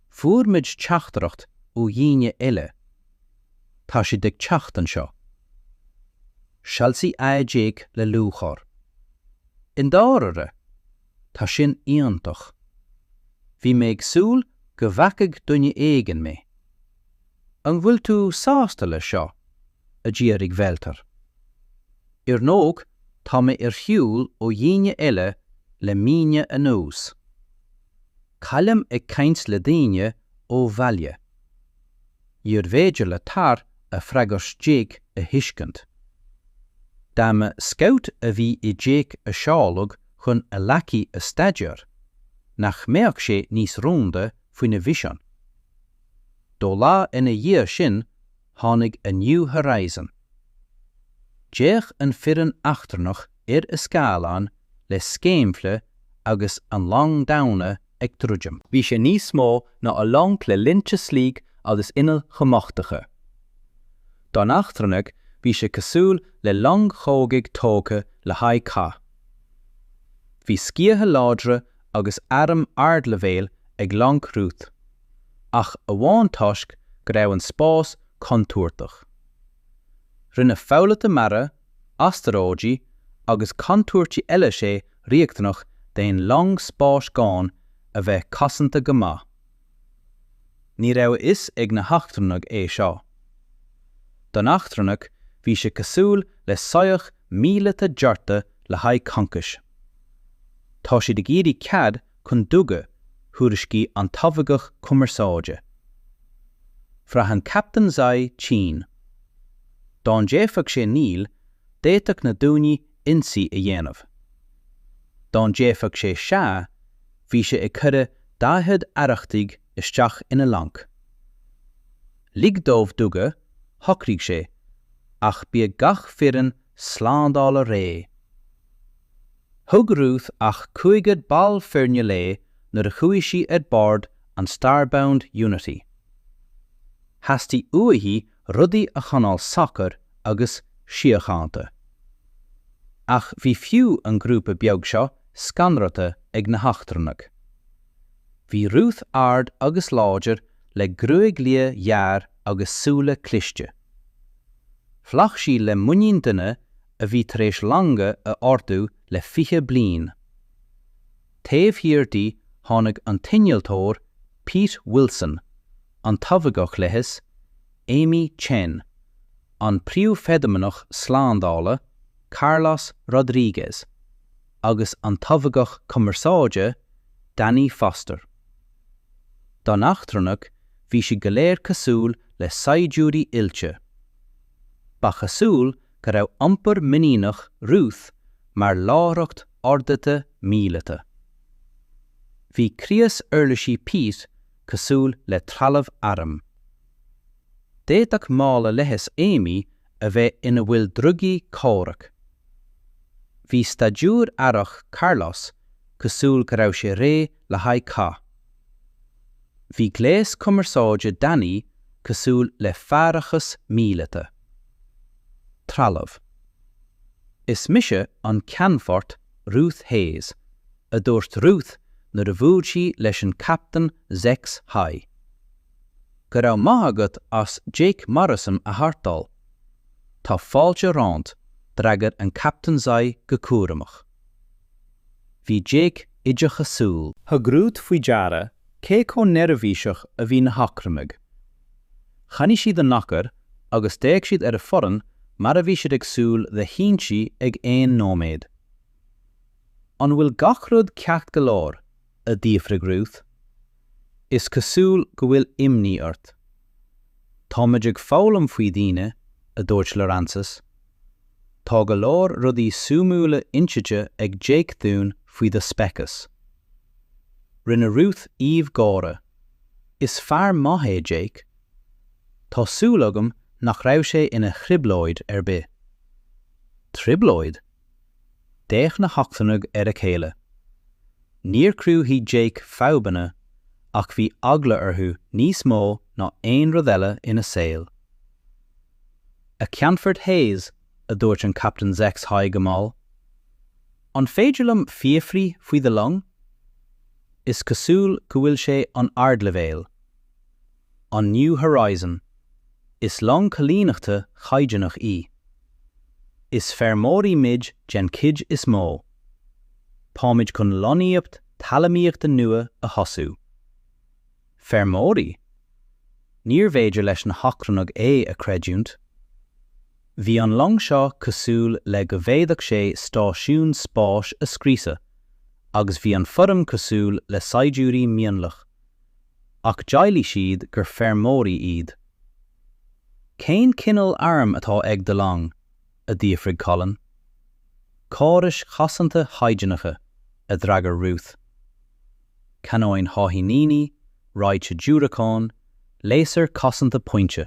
Fuair muid teachtaireacht ó dhaoine eile Tá siad ag teacht anseo. Soilsigh aghaidh Jake le lúcháir. I ndáirire? Tá sin iontach. Bhí mé ag súil go bhfeicfeadh duine éigin mé. An bhfuil tú sásta leis seo? a d'fhiafraigh Velther. Ar ndóigh tá mé ar shiúl ó dhaoine eile le míonna anuas. Caillim ag caint le daoine ó bhaile. Níorbh fhéidir le Tara freagairt Jake a thuiscint. Dá mba scout a bhí i Jake a seoladh chun a laigí a staideár, nach mbeadh sé níos rúnda faoina mhisean? Dhá lá ina dhiaidh sin tháinig an New Horizon. D'fhéach an foireann eachtrannach ar a scáileán le scéimhle agus an long daonna ag druidim. Bhí sé níos mó ná a long le línte sleek agus innill chumachtacha. Don eachtrannaigh bhí sé cosúil le long chogaidh tógtha le haghaidh cath. Bhí sciatha láidre agus airm ardleibhéil ag long Ruth, ach amháin toisc go raibh an spás contúirteach. Rinne foghlaithe mara, astaróidigh agus contúirtí eile sé riachtanach d'aon long spáis a bheith cosanta go maith. Ní raibh a fhios ag na heachtrannaigh é seo. Don eachtrannach bhí sé cosúil le soitheach míleata dearta le haghaidh concais. Tá siad ag iarraidh cead chun duga, thuairiscigh an t-oifigeach cumarsáide. Bhraith an captaen Zai tinn. Dá ndéarfadh sé níl, d'fhéadfadh na daoine ionsaí a dhéanamh. Dá ndéarfadh sé sea, bhí sé ag cuireadh 40 arrachtaigh isteach ina long. Lig dóibh duga, shocraigh sé, ach bíodh gach foireann slándála réidh. Thug Ruth ach cúigear ball foirne léi nuair a chuaigh sí ar bord an Starbound Unity. Theastaigh uaithi rudaí a choinneáil socair agus síochánta. Ach bhí fiú an grúpa beag seo scanrata ag na heachtrannaigh. Bhí Ruth ard agus láidir le gruaig liath ghearr agus súile cliste. Bhog sí le muinín duine a bhí tar éis longa a ordú le fiche bliain. Taobh thiar di tháinig an t-innealtóir Pete Wilson, an t-oifigeach leighis Amy Chen, an príomhfheidhmeannach slándála Carlos Rodríguez agus an t-oifigeach cumarsáide Danny Foster. Don eachtrannach bhí siad go léir cosúil le saighdiúirí oilte. Ba chosúil go raibh iompar muiníneach Ruth mar láithreacht ardaithe míleata. Bhí crios uirlisí Pete cosúil le trealamh airm. D'fhéadfadh mála leighis Amy a bheith ina bhfuil drugaí comhraic. Bhí staidiúir aireach Carlos cosúil go raibh sé réidh le haghaidh cath. Bhí gléas cumarsáide Danny cosúil le faireachas míleata. Trealamh, Is mise an Ceannfort Ruth Hayes, a dúirt Ruth nuair a bhuail sí leis an Captaen Zex Hai. Go raibh maith agat as Jake Morrison a tharrtháil. Tá fáilte romhat, d'fhreagair an Captaen Zex Hai go cúramach. Bhí Jake oideachasúil. Thug Ruth faoi deara cé chomh neirbhíseach a bhí na heachtrannaigh. Choinnigh siad a n-achar agus d'fhéach siad ar a foireann mar a bhí siad ag súil le hionsaí ag aon nóiméad. An bhfuil gach rud ceart go leor? a d'fhiafraigh Ruth. Is cosúil go bhfuil imní ort. Táimid ag foghlaim faoi dhaoine, a dúirt Laurances. Tá go leor rudaí súimiúla insite ag Jake dúinn faoi do speiceas. Rinne Ruth aoibh gáire. Is fear maith é Jake. Tá súil agam nach raibh sé ina thrioblóid ar bith. Trioblóid? D'fhéach na heachtrannaigh ar a chéile. Níor chruthaigh Jake fadhbanna ach bhí eagla orthu níos mó ná aon rud eile ina saol. A Cheannfort Hayes, a dúirt an Captaen Zex Hai go mall, An féidir liom fiafraí faoi do long? Is cosúil go bhfuil sé an-ardleibhéil, an New Horizon, is long coilíneachta chaighdeánach í. Is feirmeoirí muid den chuid is mó. Táimid chun lonnaíocht talamaíochta nua a thosú. Feirmeoirí? Níorbh fhéidir leis na heachtrannaigh é a chreidiúint. Bhí an long seo cosúil le go bhféadfadh sé stáisiún spáis a scriosadh, agus bhí an fhoireann cosúil le saighdiúirí mionlaigh. Ach d'éiligh siad gur feirmeoirí iad. Cén cineál airm atá ag do long? a d'fhiafraigh Colin. Córais chosanta chaighdeánacha, a d'fhreagair Ruth. canóin cháithníní, raidhse diúracán, léasar cosanta pointe.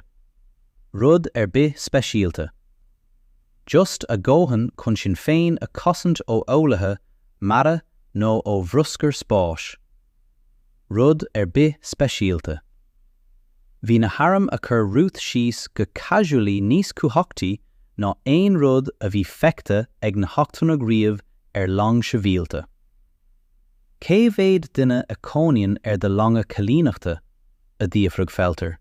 rud ar bith speisialta. just a dhóthain chun sinn féin a chosaint ó fhoghlaithe mara nó ó bhruscar spáis. rud ar bith speisialta. bhí na hairm a chuir Ruth síos go casually níos cumhachtaí ná aon rud a bhí feicthe ag na heachtrannaigh riamh ar long shibhialta. Cé mhéad duine a chónaíonn ar do longa coilíneachta? a d'fhiafraigh Felter.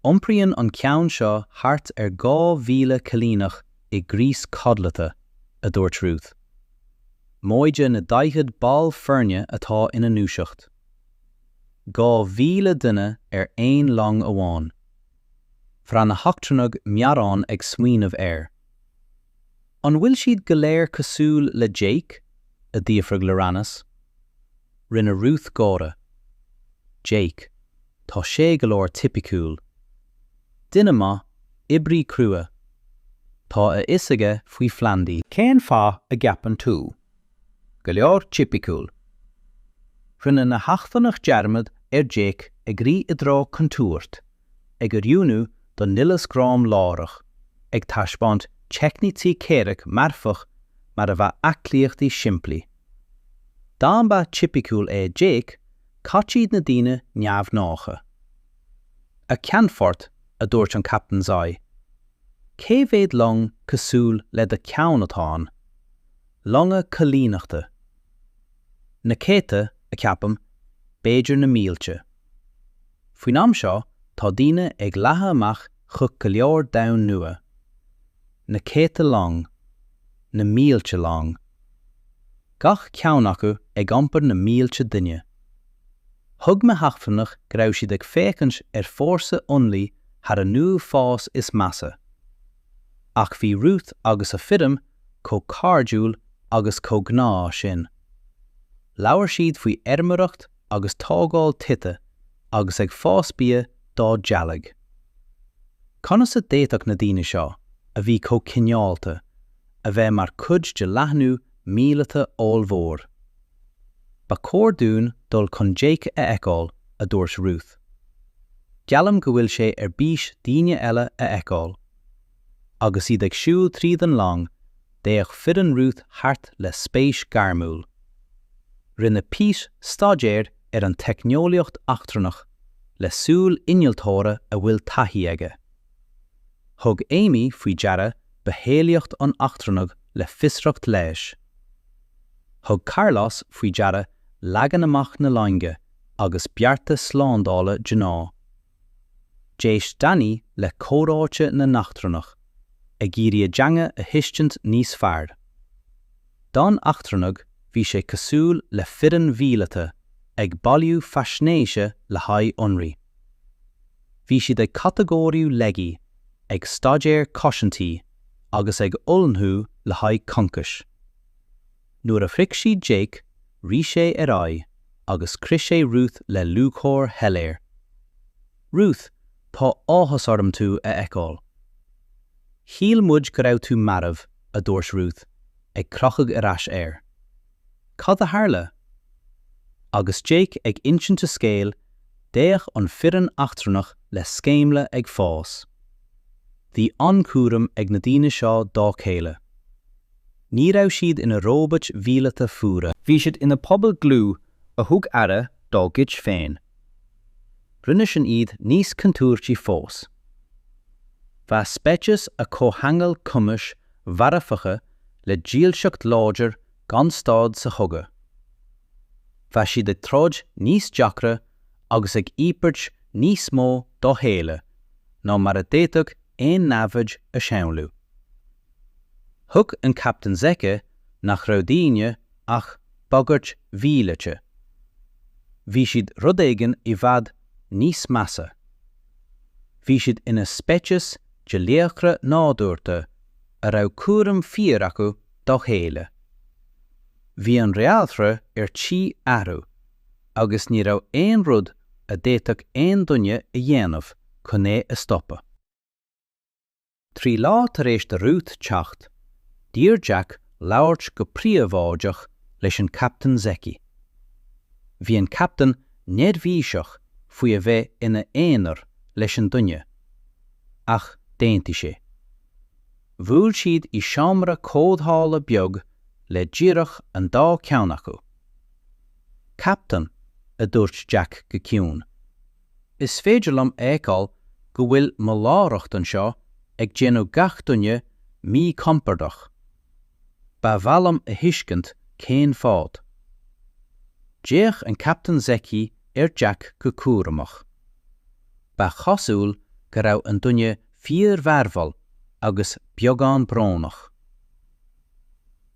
Iompraíonn an ceann seo thart ar 2,000 coilíneach i gcrios codlata, a dúirt Ruth. Móide na 40 ball foirne atá ina ndúiseacht. 2,000 duine ar aon long amháin. Bhraith na heachtrannaigh meadhrán ag smaoineamh air. An bhfuil siad go léir cosúil le Jake? a d'fhiafraigh Loranas. Rinne Ruth gáire. Jake, tá sé go leor tipiciúil. Duine maith, oibrí crua. Tá a fhios aige faoi phlandaí. Cén fáth a gceapann tú? Go leor tipiciúil. Rinne na heachtrannaigh dearmad ar Jake ag rith i dtreo contúirt ag oiriúnú don nialas gráim láithreach, ag taispeáint teicnící comhraic marfach mar a bheadh aclaíochtaí simplí. Dá mba tipiciúil é Jake, cad iad na daoine neamhghnácha. A Cheannfort, a dúirt an Captain Zai, cé mhéad long cosúil le do cheann atá ann? Longa coilíneachta. Na céadta, a cheapaim, b'fhéidir na mílte. Faoin am seo tá daoine ag leathadh amach chuig go leor domhan nua. Na céadta long. Na mílte long. Gach ceann acu ag iompar na mílte duine. Thuig na heachtrannaigh go raibh siad ag féachaint ar fhórsa ionraidh thar a n-uafás is measa. Ach bhí Ruth agus a foireann chomh cairdiúil agus chomh gnáth sin. Labhair siad faoi fheirmeoireacht, agus tógáil tithe agus ag fás bia dá dteaghlaigh. Conas a d'fhéadfadh na daoine seo, a bhí chomh cineálta, a bheith mar chuid de leathnú míleata ollmhór? Ba chóir dúinn dul chun Jake a fheiceáil, a dúirt Ruth. Geallaim go bhfuil sé ar bís daoine eile a fheiceáil. Agus iad ag siúl tríd an long, d'fhéach foireann Ruth thart le spéis gairmiúil. Rinne Pete staidéar ar an teicneolaíocht eachtrannach le súil innealtóra a bhfuil taithí aige. Thug Amy faoi deara bitheolaíocht an eachtrannaigh le fiosracht leighis. Thug Carlos faoi deara leagan amach na loinge agus bearta slándála. D'éist Danny le comhráite na n-eachtrannach, ag iarraidh a dteanga a thuiscint níos fearr. Do na heachtrannaigh bhí sé cosúil le foireann mhíleata ag bailiú faisnéise le haghaidh ionraidh. Bhí siad ag catagóiriú laigí, ag staidéar cosaintí agus ag ullmhú le haghaidh concais. Nuair a shroich siad Jake, rith sé ar aghaidh agus chroith sé Ruth le lúcháir shoiléir. Ruth, tá áthas orm tú a fheiceáil. Shíl muid go raibh tú marbh, a dúirt Ruth, ag crochadh ar ais air. Cad a tharla? Agus Jake ag insint a scéil, d'fhéach an fhoireann eachtrannach le sceimhle ag fás. Bhí an-chúram ag na daoine seo dá chéile. Ní raibh siad ina róbait mhíleata fuara. Bhí siad ina pobal dlúth a thug aire dá gcuid féin. Rinne sin iad níos contúirtí fós. Bheadh speiceas a chomhcheangail cumais mharfacha le dílseacht láidir gan stad sa chogadh. Bheadh siad ag troid níos deacra agus ag íobairt níos mó dá chéile ná mar a d'fhéadfadh aon namhaid a shamhlú. Thuig an captaen Zeki nach raibh daoine ach bagairt mhíleata. Bhí siad rud éigin i bhfad níos measa. Bhí siad ina speiceas de laochra nádúrta a raibh cúram fíor acu dá chéile. Bhí an réaltra ar tí athrú agus ní raibh aon rud a d'fhéadfadh aon duine a dhéanamh chun é a stopadh. Trí lá tar éis do Ruth teacht, d'iarr Jake labhairt go príobháideach leis an Chaptaen Zeki. Bhí an Captaen neirbhíseach faoi a bheith ina aonar leis an duine, ach d'aontaigh sé. Bhuail siad i seomra comhdhála beag le díreach an dá cheann acu. Captaen, a dúirt Jake go ciúin. Is féidir liom a fheiceáil go bhfuil mo láithreacht anseo ag déanamh gach duine míchompordach. Ba mhaith liom a thuiscint cén fáth. D'fhéach an Captaen Zecchi ar Jack go cúramach. Ba chosúil go raibh an duine fíor-mhearbhall agus beagán brónach.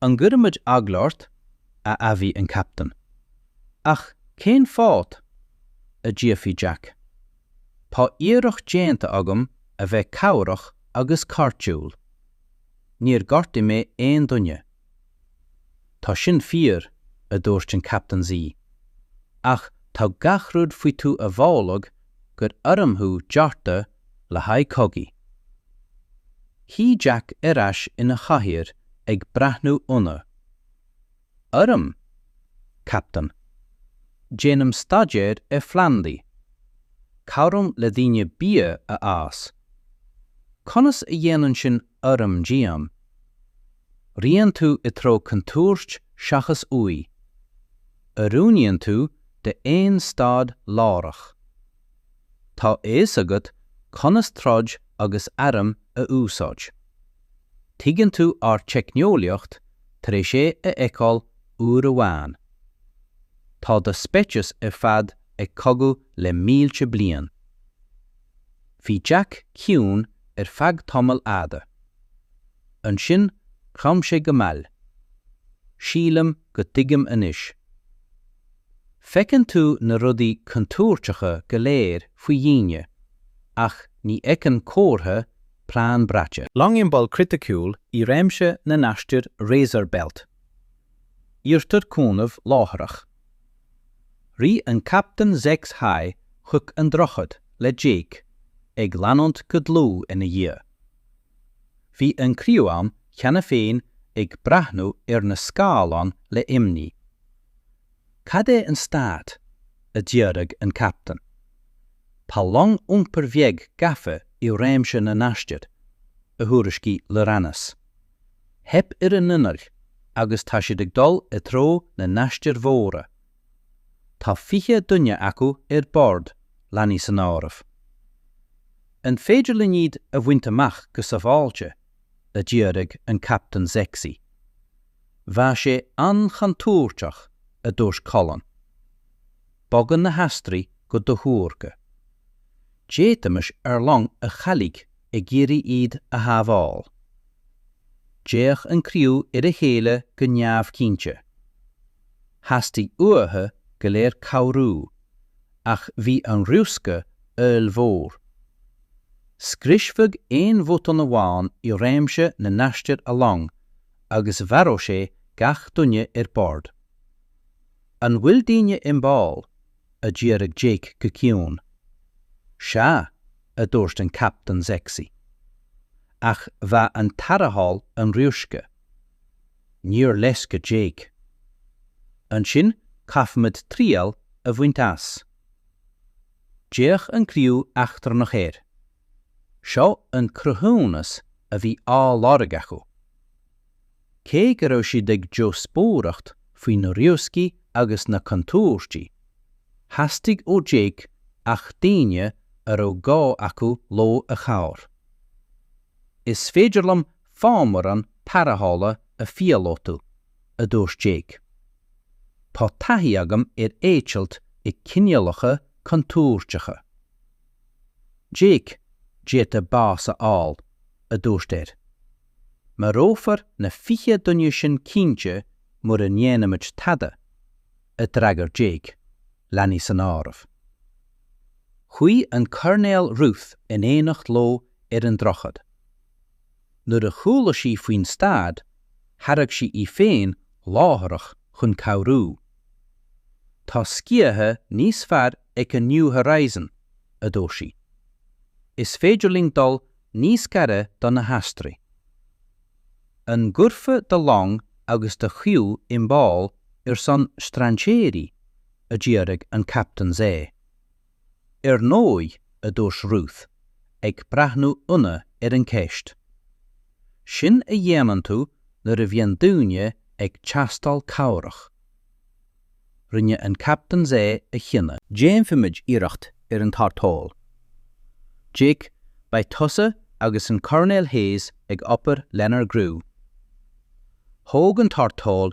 An gcuirfimid eagla ort, a admhaigh an Captaen. Ach cén fáth? a d'fhiafraigh Jack. Tá iarracht déanta agam a bheith cabhrach agus cairdiúil. Níor ghortaigh mé aon duine. Tá sin fíor, a dúirt an Captaen Z, ach tá gach rud faoi tú a mholadh gur arm thú deartha le haghaidh cogaidh. Shuigh Jack ar ais ina chathaoir ag breathnú ionadh. Arm? Captain. Déanaim staidéar ar phlandaí. Cabhraím le daoine bia a fhás. Conas a dhéanann sin arm díom? Ritheann tú i dtreo contúirt seachas uaidh. Oiriúnaíonn tú d'aon staid láithreach. Tá a fhios agat conas troid agus airm a úsáid. Tuigeann tú ár teicneolaíocht tar éis é a fheiceáil uair amháin. Tá do speiceas ar fad ag cogadh le mílte bliain. Bhí Jack ciúin ar feadh tamaill fhada. Ansin chrom sé go mall. Sílim go dtuigim anois. Feiceann tú na rudaí contúirteacha go léir faoi dhaoine, ach ní fheiceann comhartha plean braite. Long i mbaol criticiúil i réimse na n-aistir Razor Belt. Iarrtar cúnamh láithreach. Rith an captaen Zex Hae chuig an droichead le Jack ag leanúint go dlúth ina dhiaidh. Bhí an criú ann cheana féin ag breathnú ar na scáileáin le imní. Cad é an stát? a d'fhiafraigh an captaen. Tá long iompair bheag gafa i réimse na n-aistir, a thuairiscigh Lyranas. Theip ar a n-innill agus tá siad ag dul i dtreo na n-aistir mhóra. Tá fiche duine acu ar bord, leanaí san áireamh. An féidir linn iad a bhaint amach go sábháilte? a d'fhiafraigh an Captaen Zexi. Bheadh sé an-chontúirteach, a dúirt Colin. Bogann na hastaróidigh go dothuartha. D'fhéadfaimis ár long a chailleadh ag iarraidh iad a shábháil. D'fhéach an criú ar a chéile go neamhchinnte. Theastaigh uathu go léir cabhrú, ach bhí an riosca ollmhór. Scriosfadh aon bhotún amháin i réimse na n-aistir a long agus mharódh sé gach duine ar bord. An bhfuil daoine i mbaol? a d'fhiafraigh Jake go ciúin. Sea, a dúirt an Captaen Sexy. Ach bheadh an tarrtháil an-riosca. Níor leisce Jake. Ansin caithfimid triail a bhaint as. D'fhéach an criú eachtrannach air. Seo an cruthúnas a bhí á lorg acu. Cé go raibh siad ag díospóireacht faoi na rioscaí agus na contúirtí, theastaigh ó Jake ach daoine a raibh gá acu leo a chabhair. Is féidir liom fámaireán tarrthála a phíolótú, a dúirt Jake. Tá taithí agam ar eitilt i gcineálacha contúirteacha. Jake, d'fhéadfá bás a fháil, a dúirt air. Marófar na fiche duine sin cinnte mura ndéanaimid tada, a d'fhreagair Jake, leanaí san áireamh. Chuaigh an Coirnéal Ruth in éineacht leo ar an droichead. Nuair a chuala sí faoin staid, thairg sí í féin láithreach chun cabhrú. Tá sciatha níos fearr ag an New Horizon, a dúirt sí. Is féidir linn dul níos gaire do na hastaróidigh. An gcuirfeá do long agus do chriú i mbaol ar son strainséirí? a d'fhiafraigh an captaen di. Ar ndóigh, a dúirt Ruth, ag breathnú ionadh ar an gceist. Sin a dhéanann tú nuair a bhíonn daoine ag teastáil cabhrach. Rinne an captaen é a chinneadh. Déanfaimid iarracht ar an tarrtháil. Jake, beidh tusa agus an Coirnéal Hayes ag obair lenár gcriú. Thóg an tarrtháil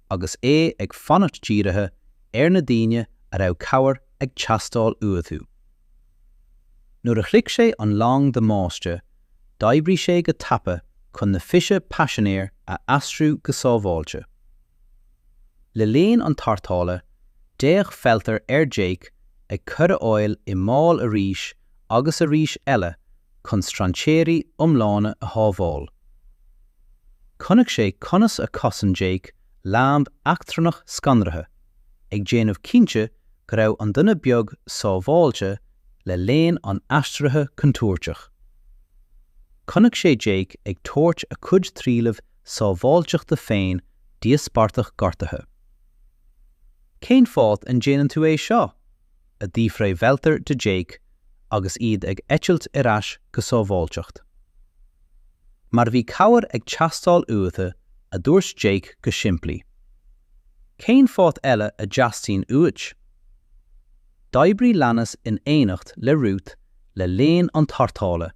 agus é ag fanacht dírithe ar na daoine a raibh cabhair ag teastáil uathu. Nuair a shroich sé an long damáiste d'oibrigh sé go tapa chun na 20 paisinéir a aistriú go sábháilte. Le linn an tarrthála, d'fhéach Feltar ar Jake ag cur a shaol i mbaol arís agus arís eile chun strainséirí iomlána a shábháil. Chonaic sé conas a chosain Jake leanbh eachtrannach scanraithe, ag déanamh cinnte go raibh an duine beag sábháilte le linn an aistrithe chontúirtigh. Chonaic sé Jake ag tabhairt a chuid trialaimh sábháilteachta féin d'íospartach gortaithe. Cén fáth a ndéanann tú é seo? a d'fhiafraigh Welter de Jake agus iad ag eitilt ar ais go sábháilteacht. Mar bhí cabhair ag teastáil uathu, a dúirt Jake go simplí. Cén fáth eile a dteastaíonn uait? D'oibrigh Lannis in éineacht le Ruth le linn an tarrthála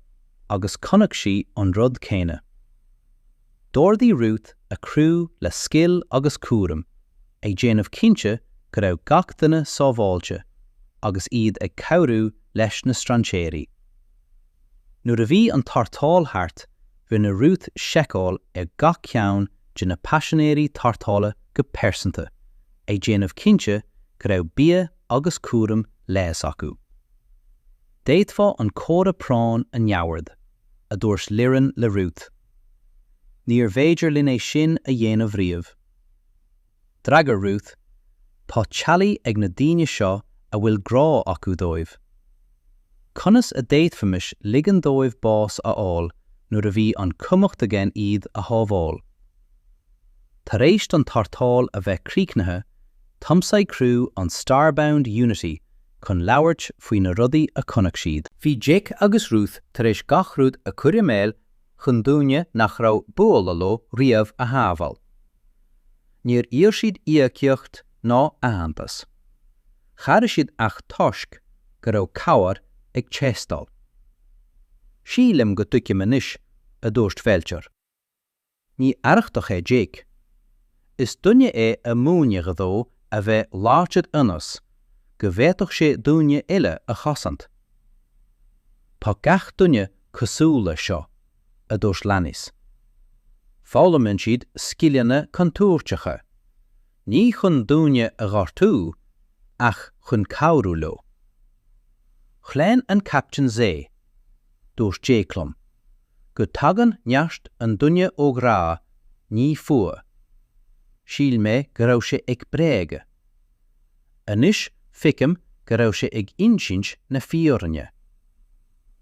agus chonaic sí an rud céanna. D'ordaigh Ruth a criú le scil agus cúram, ag déanamh cinnte go raibh gach duine sábháilte agus iad ag cabhrú leis na strainséirí. Nuair a bhí an tarrtháil thart, rinne Ruth seiceáil ar gach ceann de na paisinéirí tarrthála go pearsanta, ag déanamh cinnte go raibh bia agus cúram leighis acu. D'fhéadfá an comhartha práinne a neamhaird, a dúirt Liron le Ruth. Níorbh fhéidir linn é sin a dhéanamh riamh. D'fhreagair Ruth, Tá teaghlaigh ag na daoine seo a bhfuil grá acu dóibh. Conas a d'fhéadfaimis ligean dóibh bás a fháil nuair a bhí an cumhacht againn iad a shábháil? Tar éis don tarrtháil a bheith críochnaithe, tiomsaigh criú an Starbound Unity chun labhairt faoi na rudaí a chonaic siad. Bhí Jake agus Ruth tar éis gach rud a chur i mbaol chun daoine nach raibh buailte leo riamh a shábháil. Níor iarr siad íocaíocht ná aitheantas. Chabhraigh siad ach toisc go raibh cabhair ag teastáil. Sílim go dtuigim anois, a dúirt Felcher. Ní arrachtach é Jake. Is duine é a múineadh dó a bheith láidir ionas go bhféadfadh sé daoine eile a chosaint. Tá gach duine cosúil leis seo, a dúirt Lannis. Foghlaimíonn siad scileanna contúirteacha, ní chun daoine a ghortú, ach chun cabhrú leo. Chlaon an caiptin zaigh. Dúirt Jake liom go dtagann neart an duine ó ghrá ní fuath. Shíl mé go raibh sé ag bréagadh. Anois feicim go raibh sé ag insint na fírinne.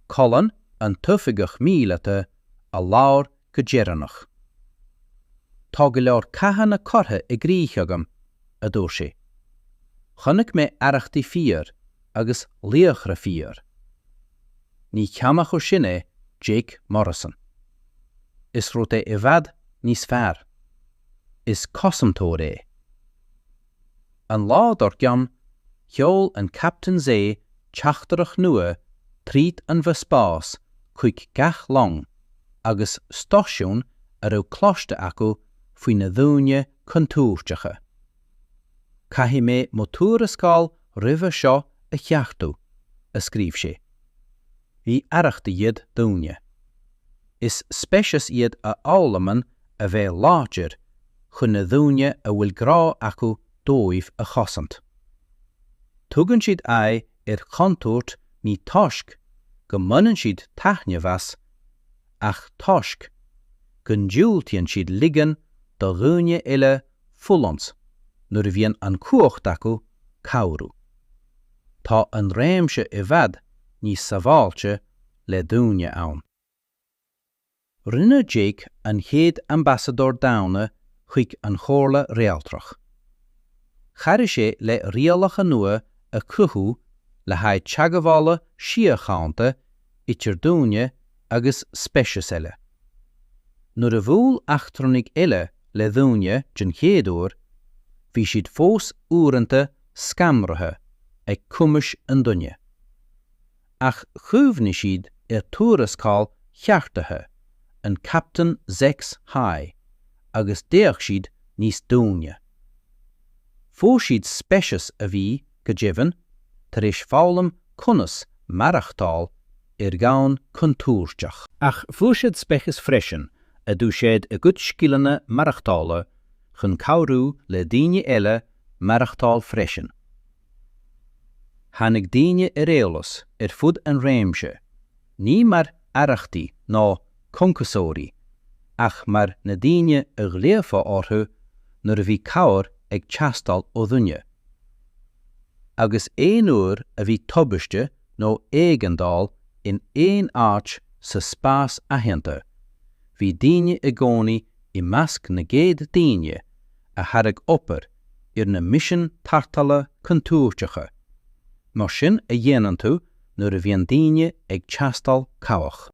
Colin an t-oifigeach míleata a labhair go deireanach. Tá go leor cathanna curtha i gcrích agam, a dúirt sé. Chonaic mé arrachtaí fíor agus laochra fíor. Ní ceann acu sin é Jake Morrison. Is rud é i bhfad níos fearr. Is cosantóir é. An lá dár gcionn, sheol an Captaen Zai teachtaireacht nua tríd an bhfospás chuig gach long agus stáisiún a raibh cloiste acu faoi na daoine contúirteacha. Caithfidh mé mo thuarascáil roimhe seo a cheartú, a scríobh sé. Ní arrachtaí iad daoine. Is speiceas iad a fhoghlamann a bheith láidir chun na daoine a bhfuil grá acu dóibh a chosaint. Tugann siad aghaidh ar chontúirt ní toisc go mbaineann siad taitneamh as ach toisc go ndiúltaíonn siad ligean do dhaoine eile fulaingt, nuair a bhíonn an cumhacht acu cabhrú. Tá an réimse i bhfad níos sabháilte le daoine ann. Rinne Jake an chéad Ambasadóir Daonna chuig an Chomhairle Réaltrach. Chabhraigh sé le rialacha nua a chruthú le haghaidh teagmhála síochánta idir daoine agus speiceas eile. Nuair a bhuail eachtrannaigh eile le daoine den chéad uair, bhí siad fós uaireanta scanraithe ag cumais an duine. Ach chuimhnigh siad ar thuarascáil cheartaithe an Chaptaein Zex High agus d'fhéach siad níos doimhne. Fuair siad speiceas a bhí, go deimhin, tar éis foghlaim conas maireachtáil ar dhomhan contúirteach. Ach fuair siad speiceas freisin a d'úsáid a gcuid scileanna maireachtála chun cabhrú le daoine eile maireachtáil freisin. Tháinig daoine ar eolas ar fud an réimse Ní mar arrachtaí ná concasóirí ach mar na daoine a ghlaofá orthu nuair a bhí cabhair ag teastáil ó dhuine. Agus aon uair a bhí tubaiste nó éigeandáil in aon áit sa spás aitheanta, bhí daoine i gcónaí i measc na gcéad daoine a thairg obair, ar na misin tarrthála contúirteacha, mar sin a dhéanann tú nuair a bhíonn daoine ag teastáil cabhrach.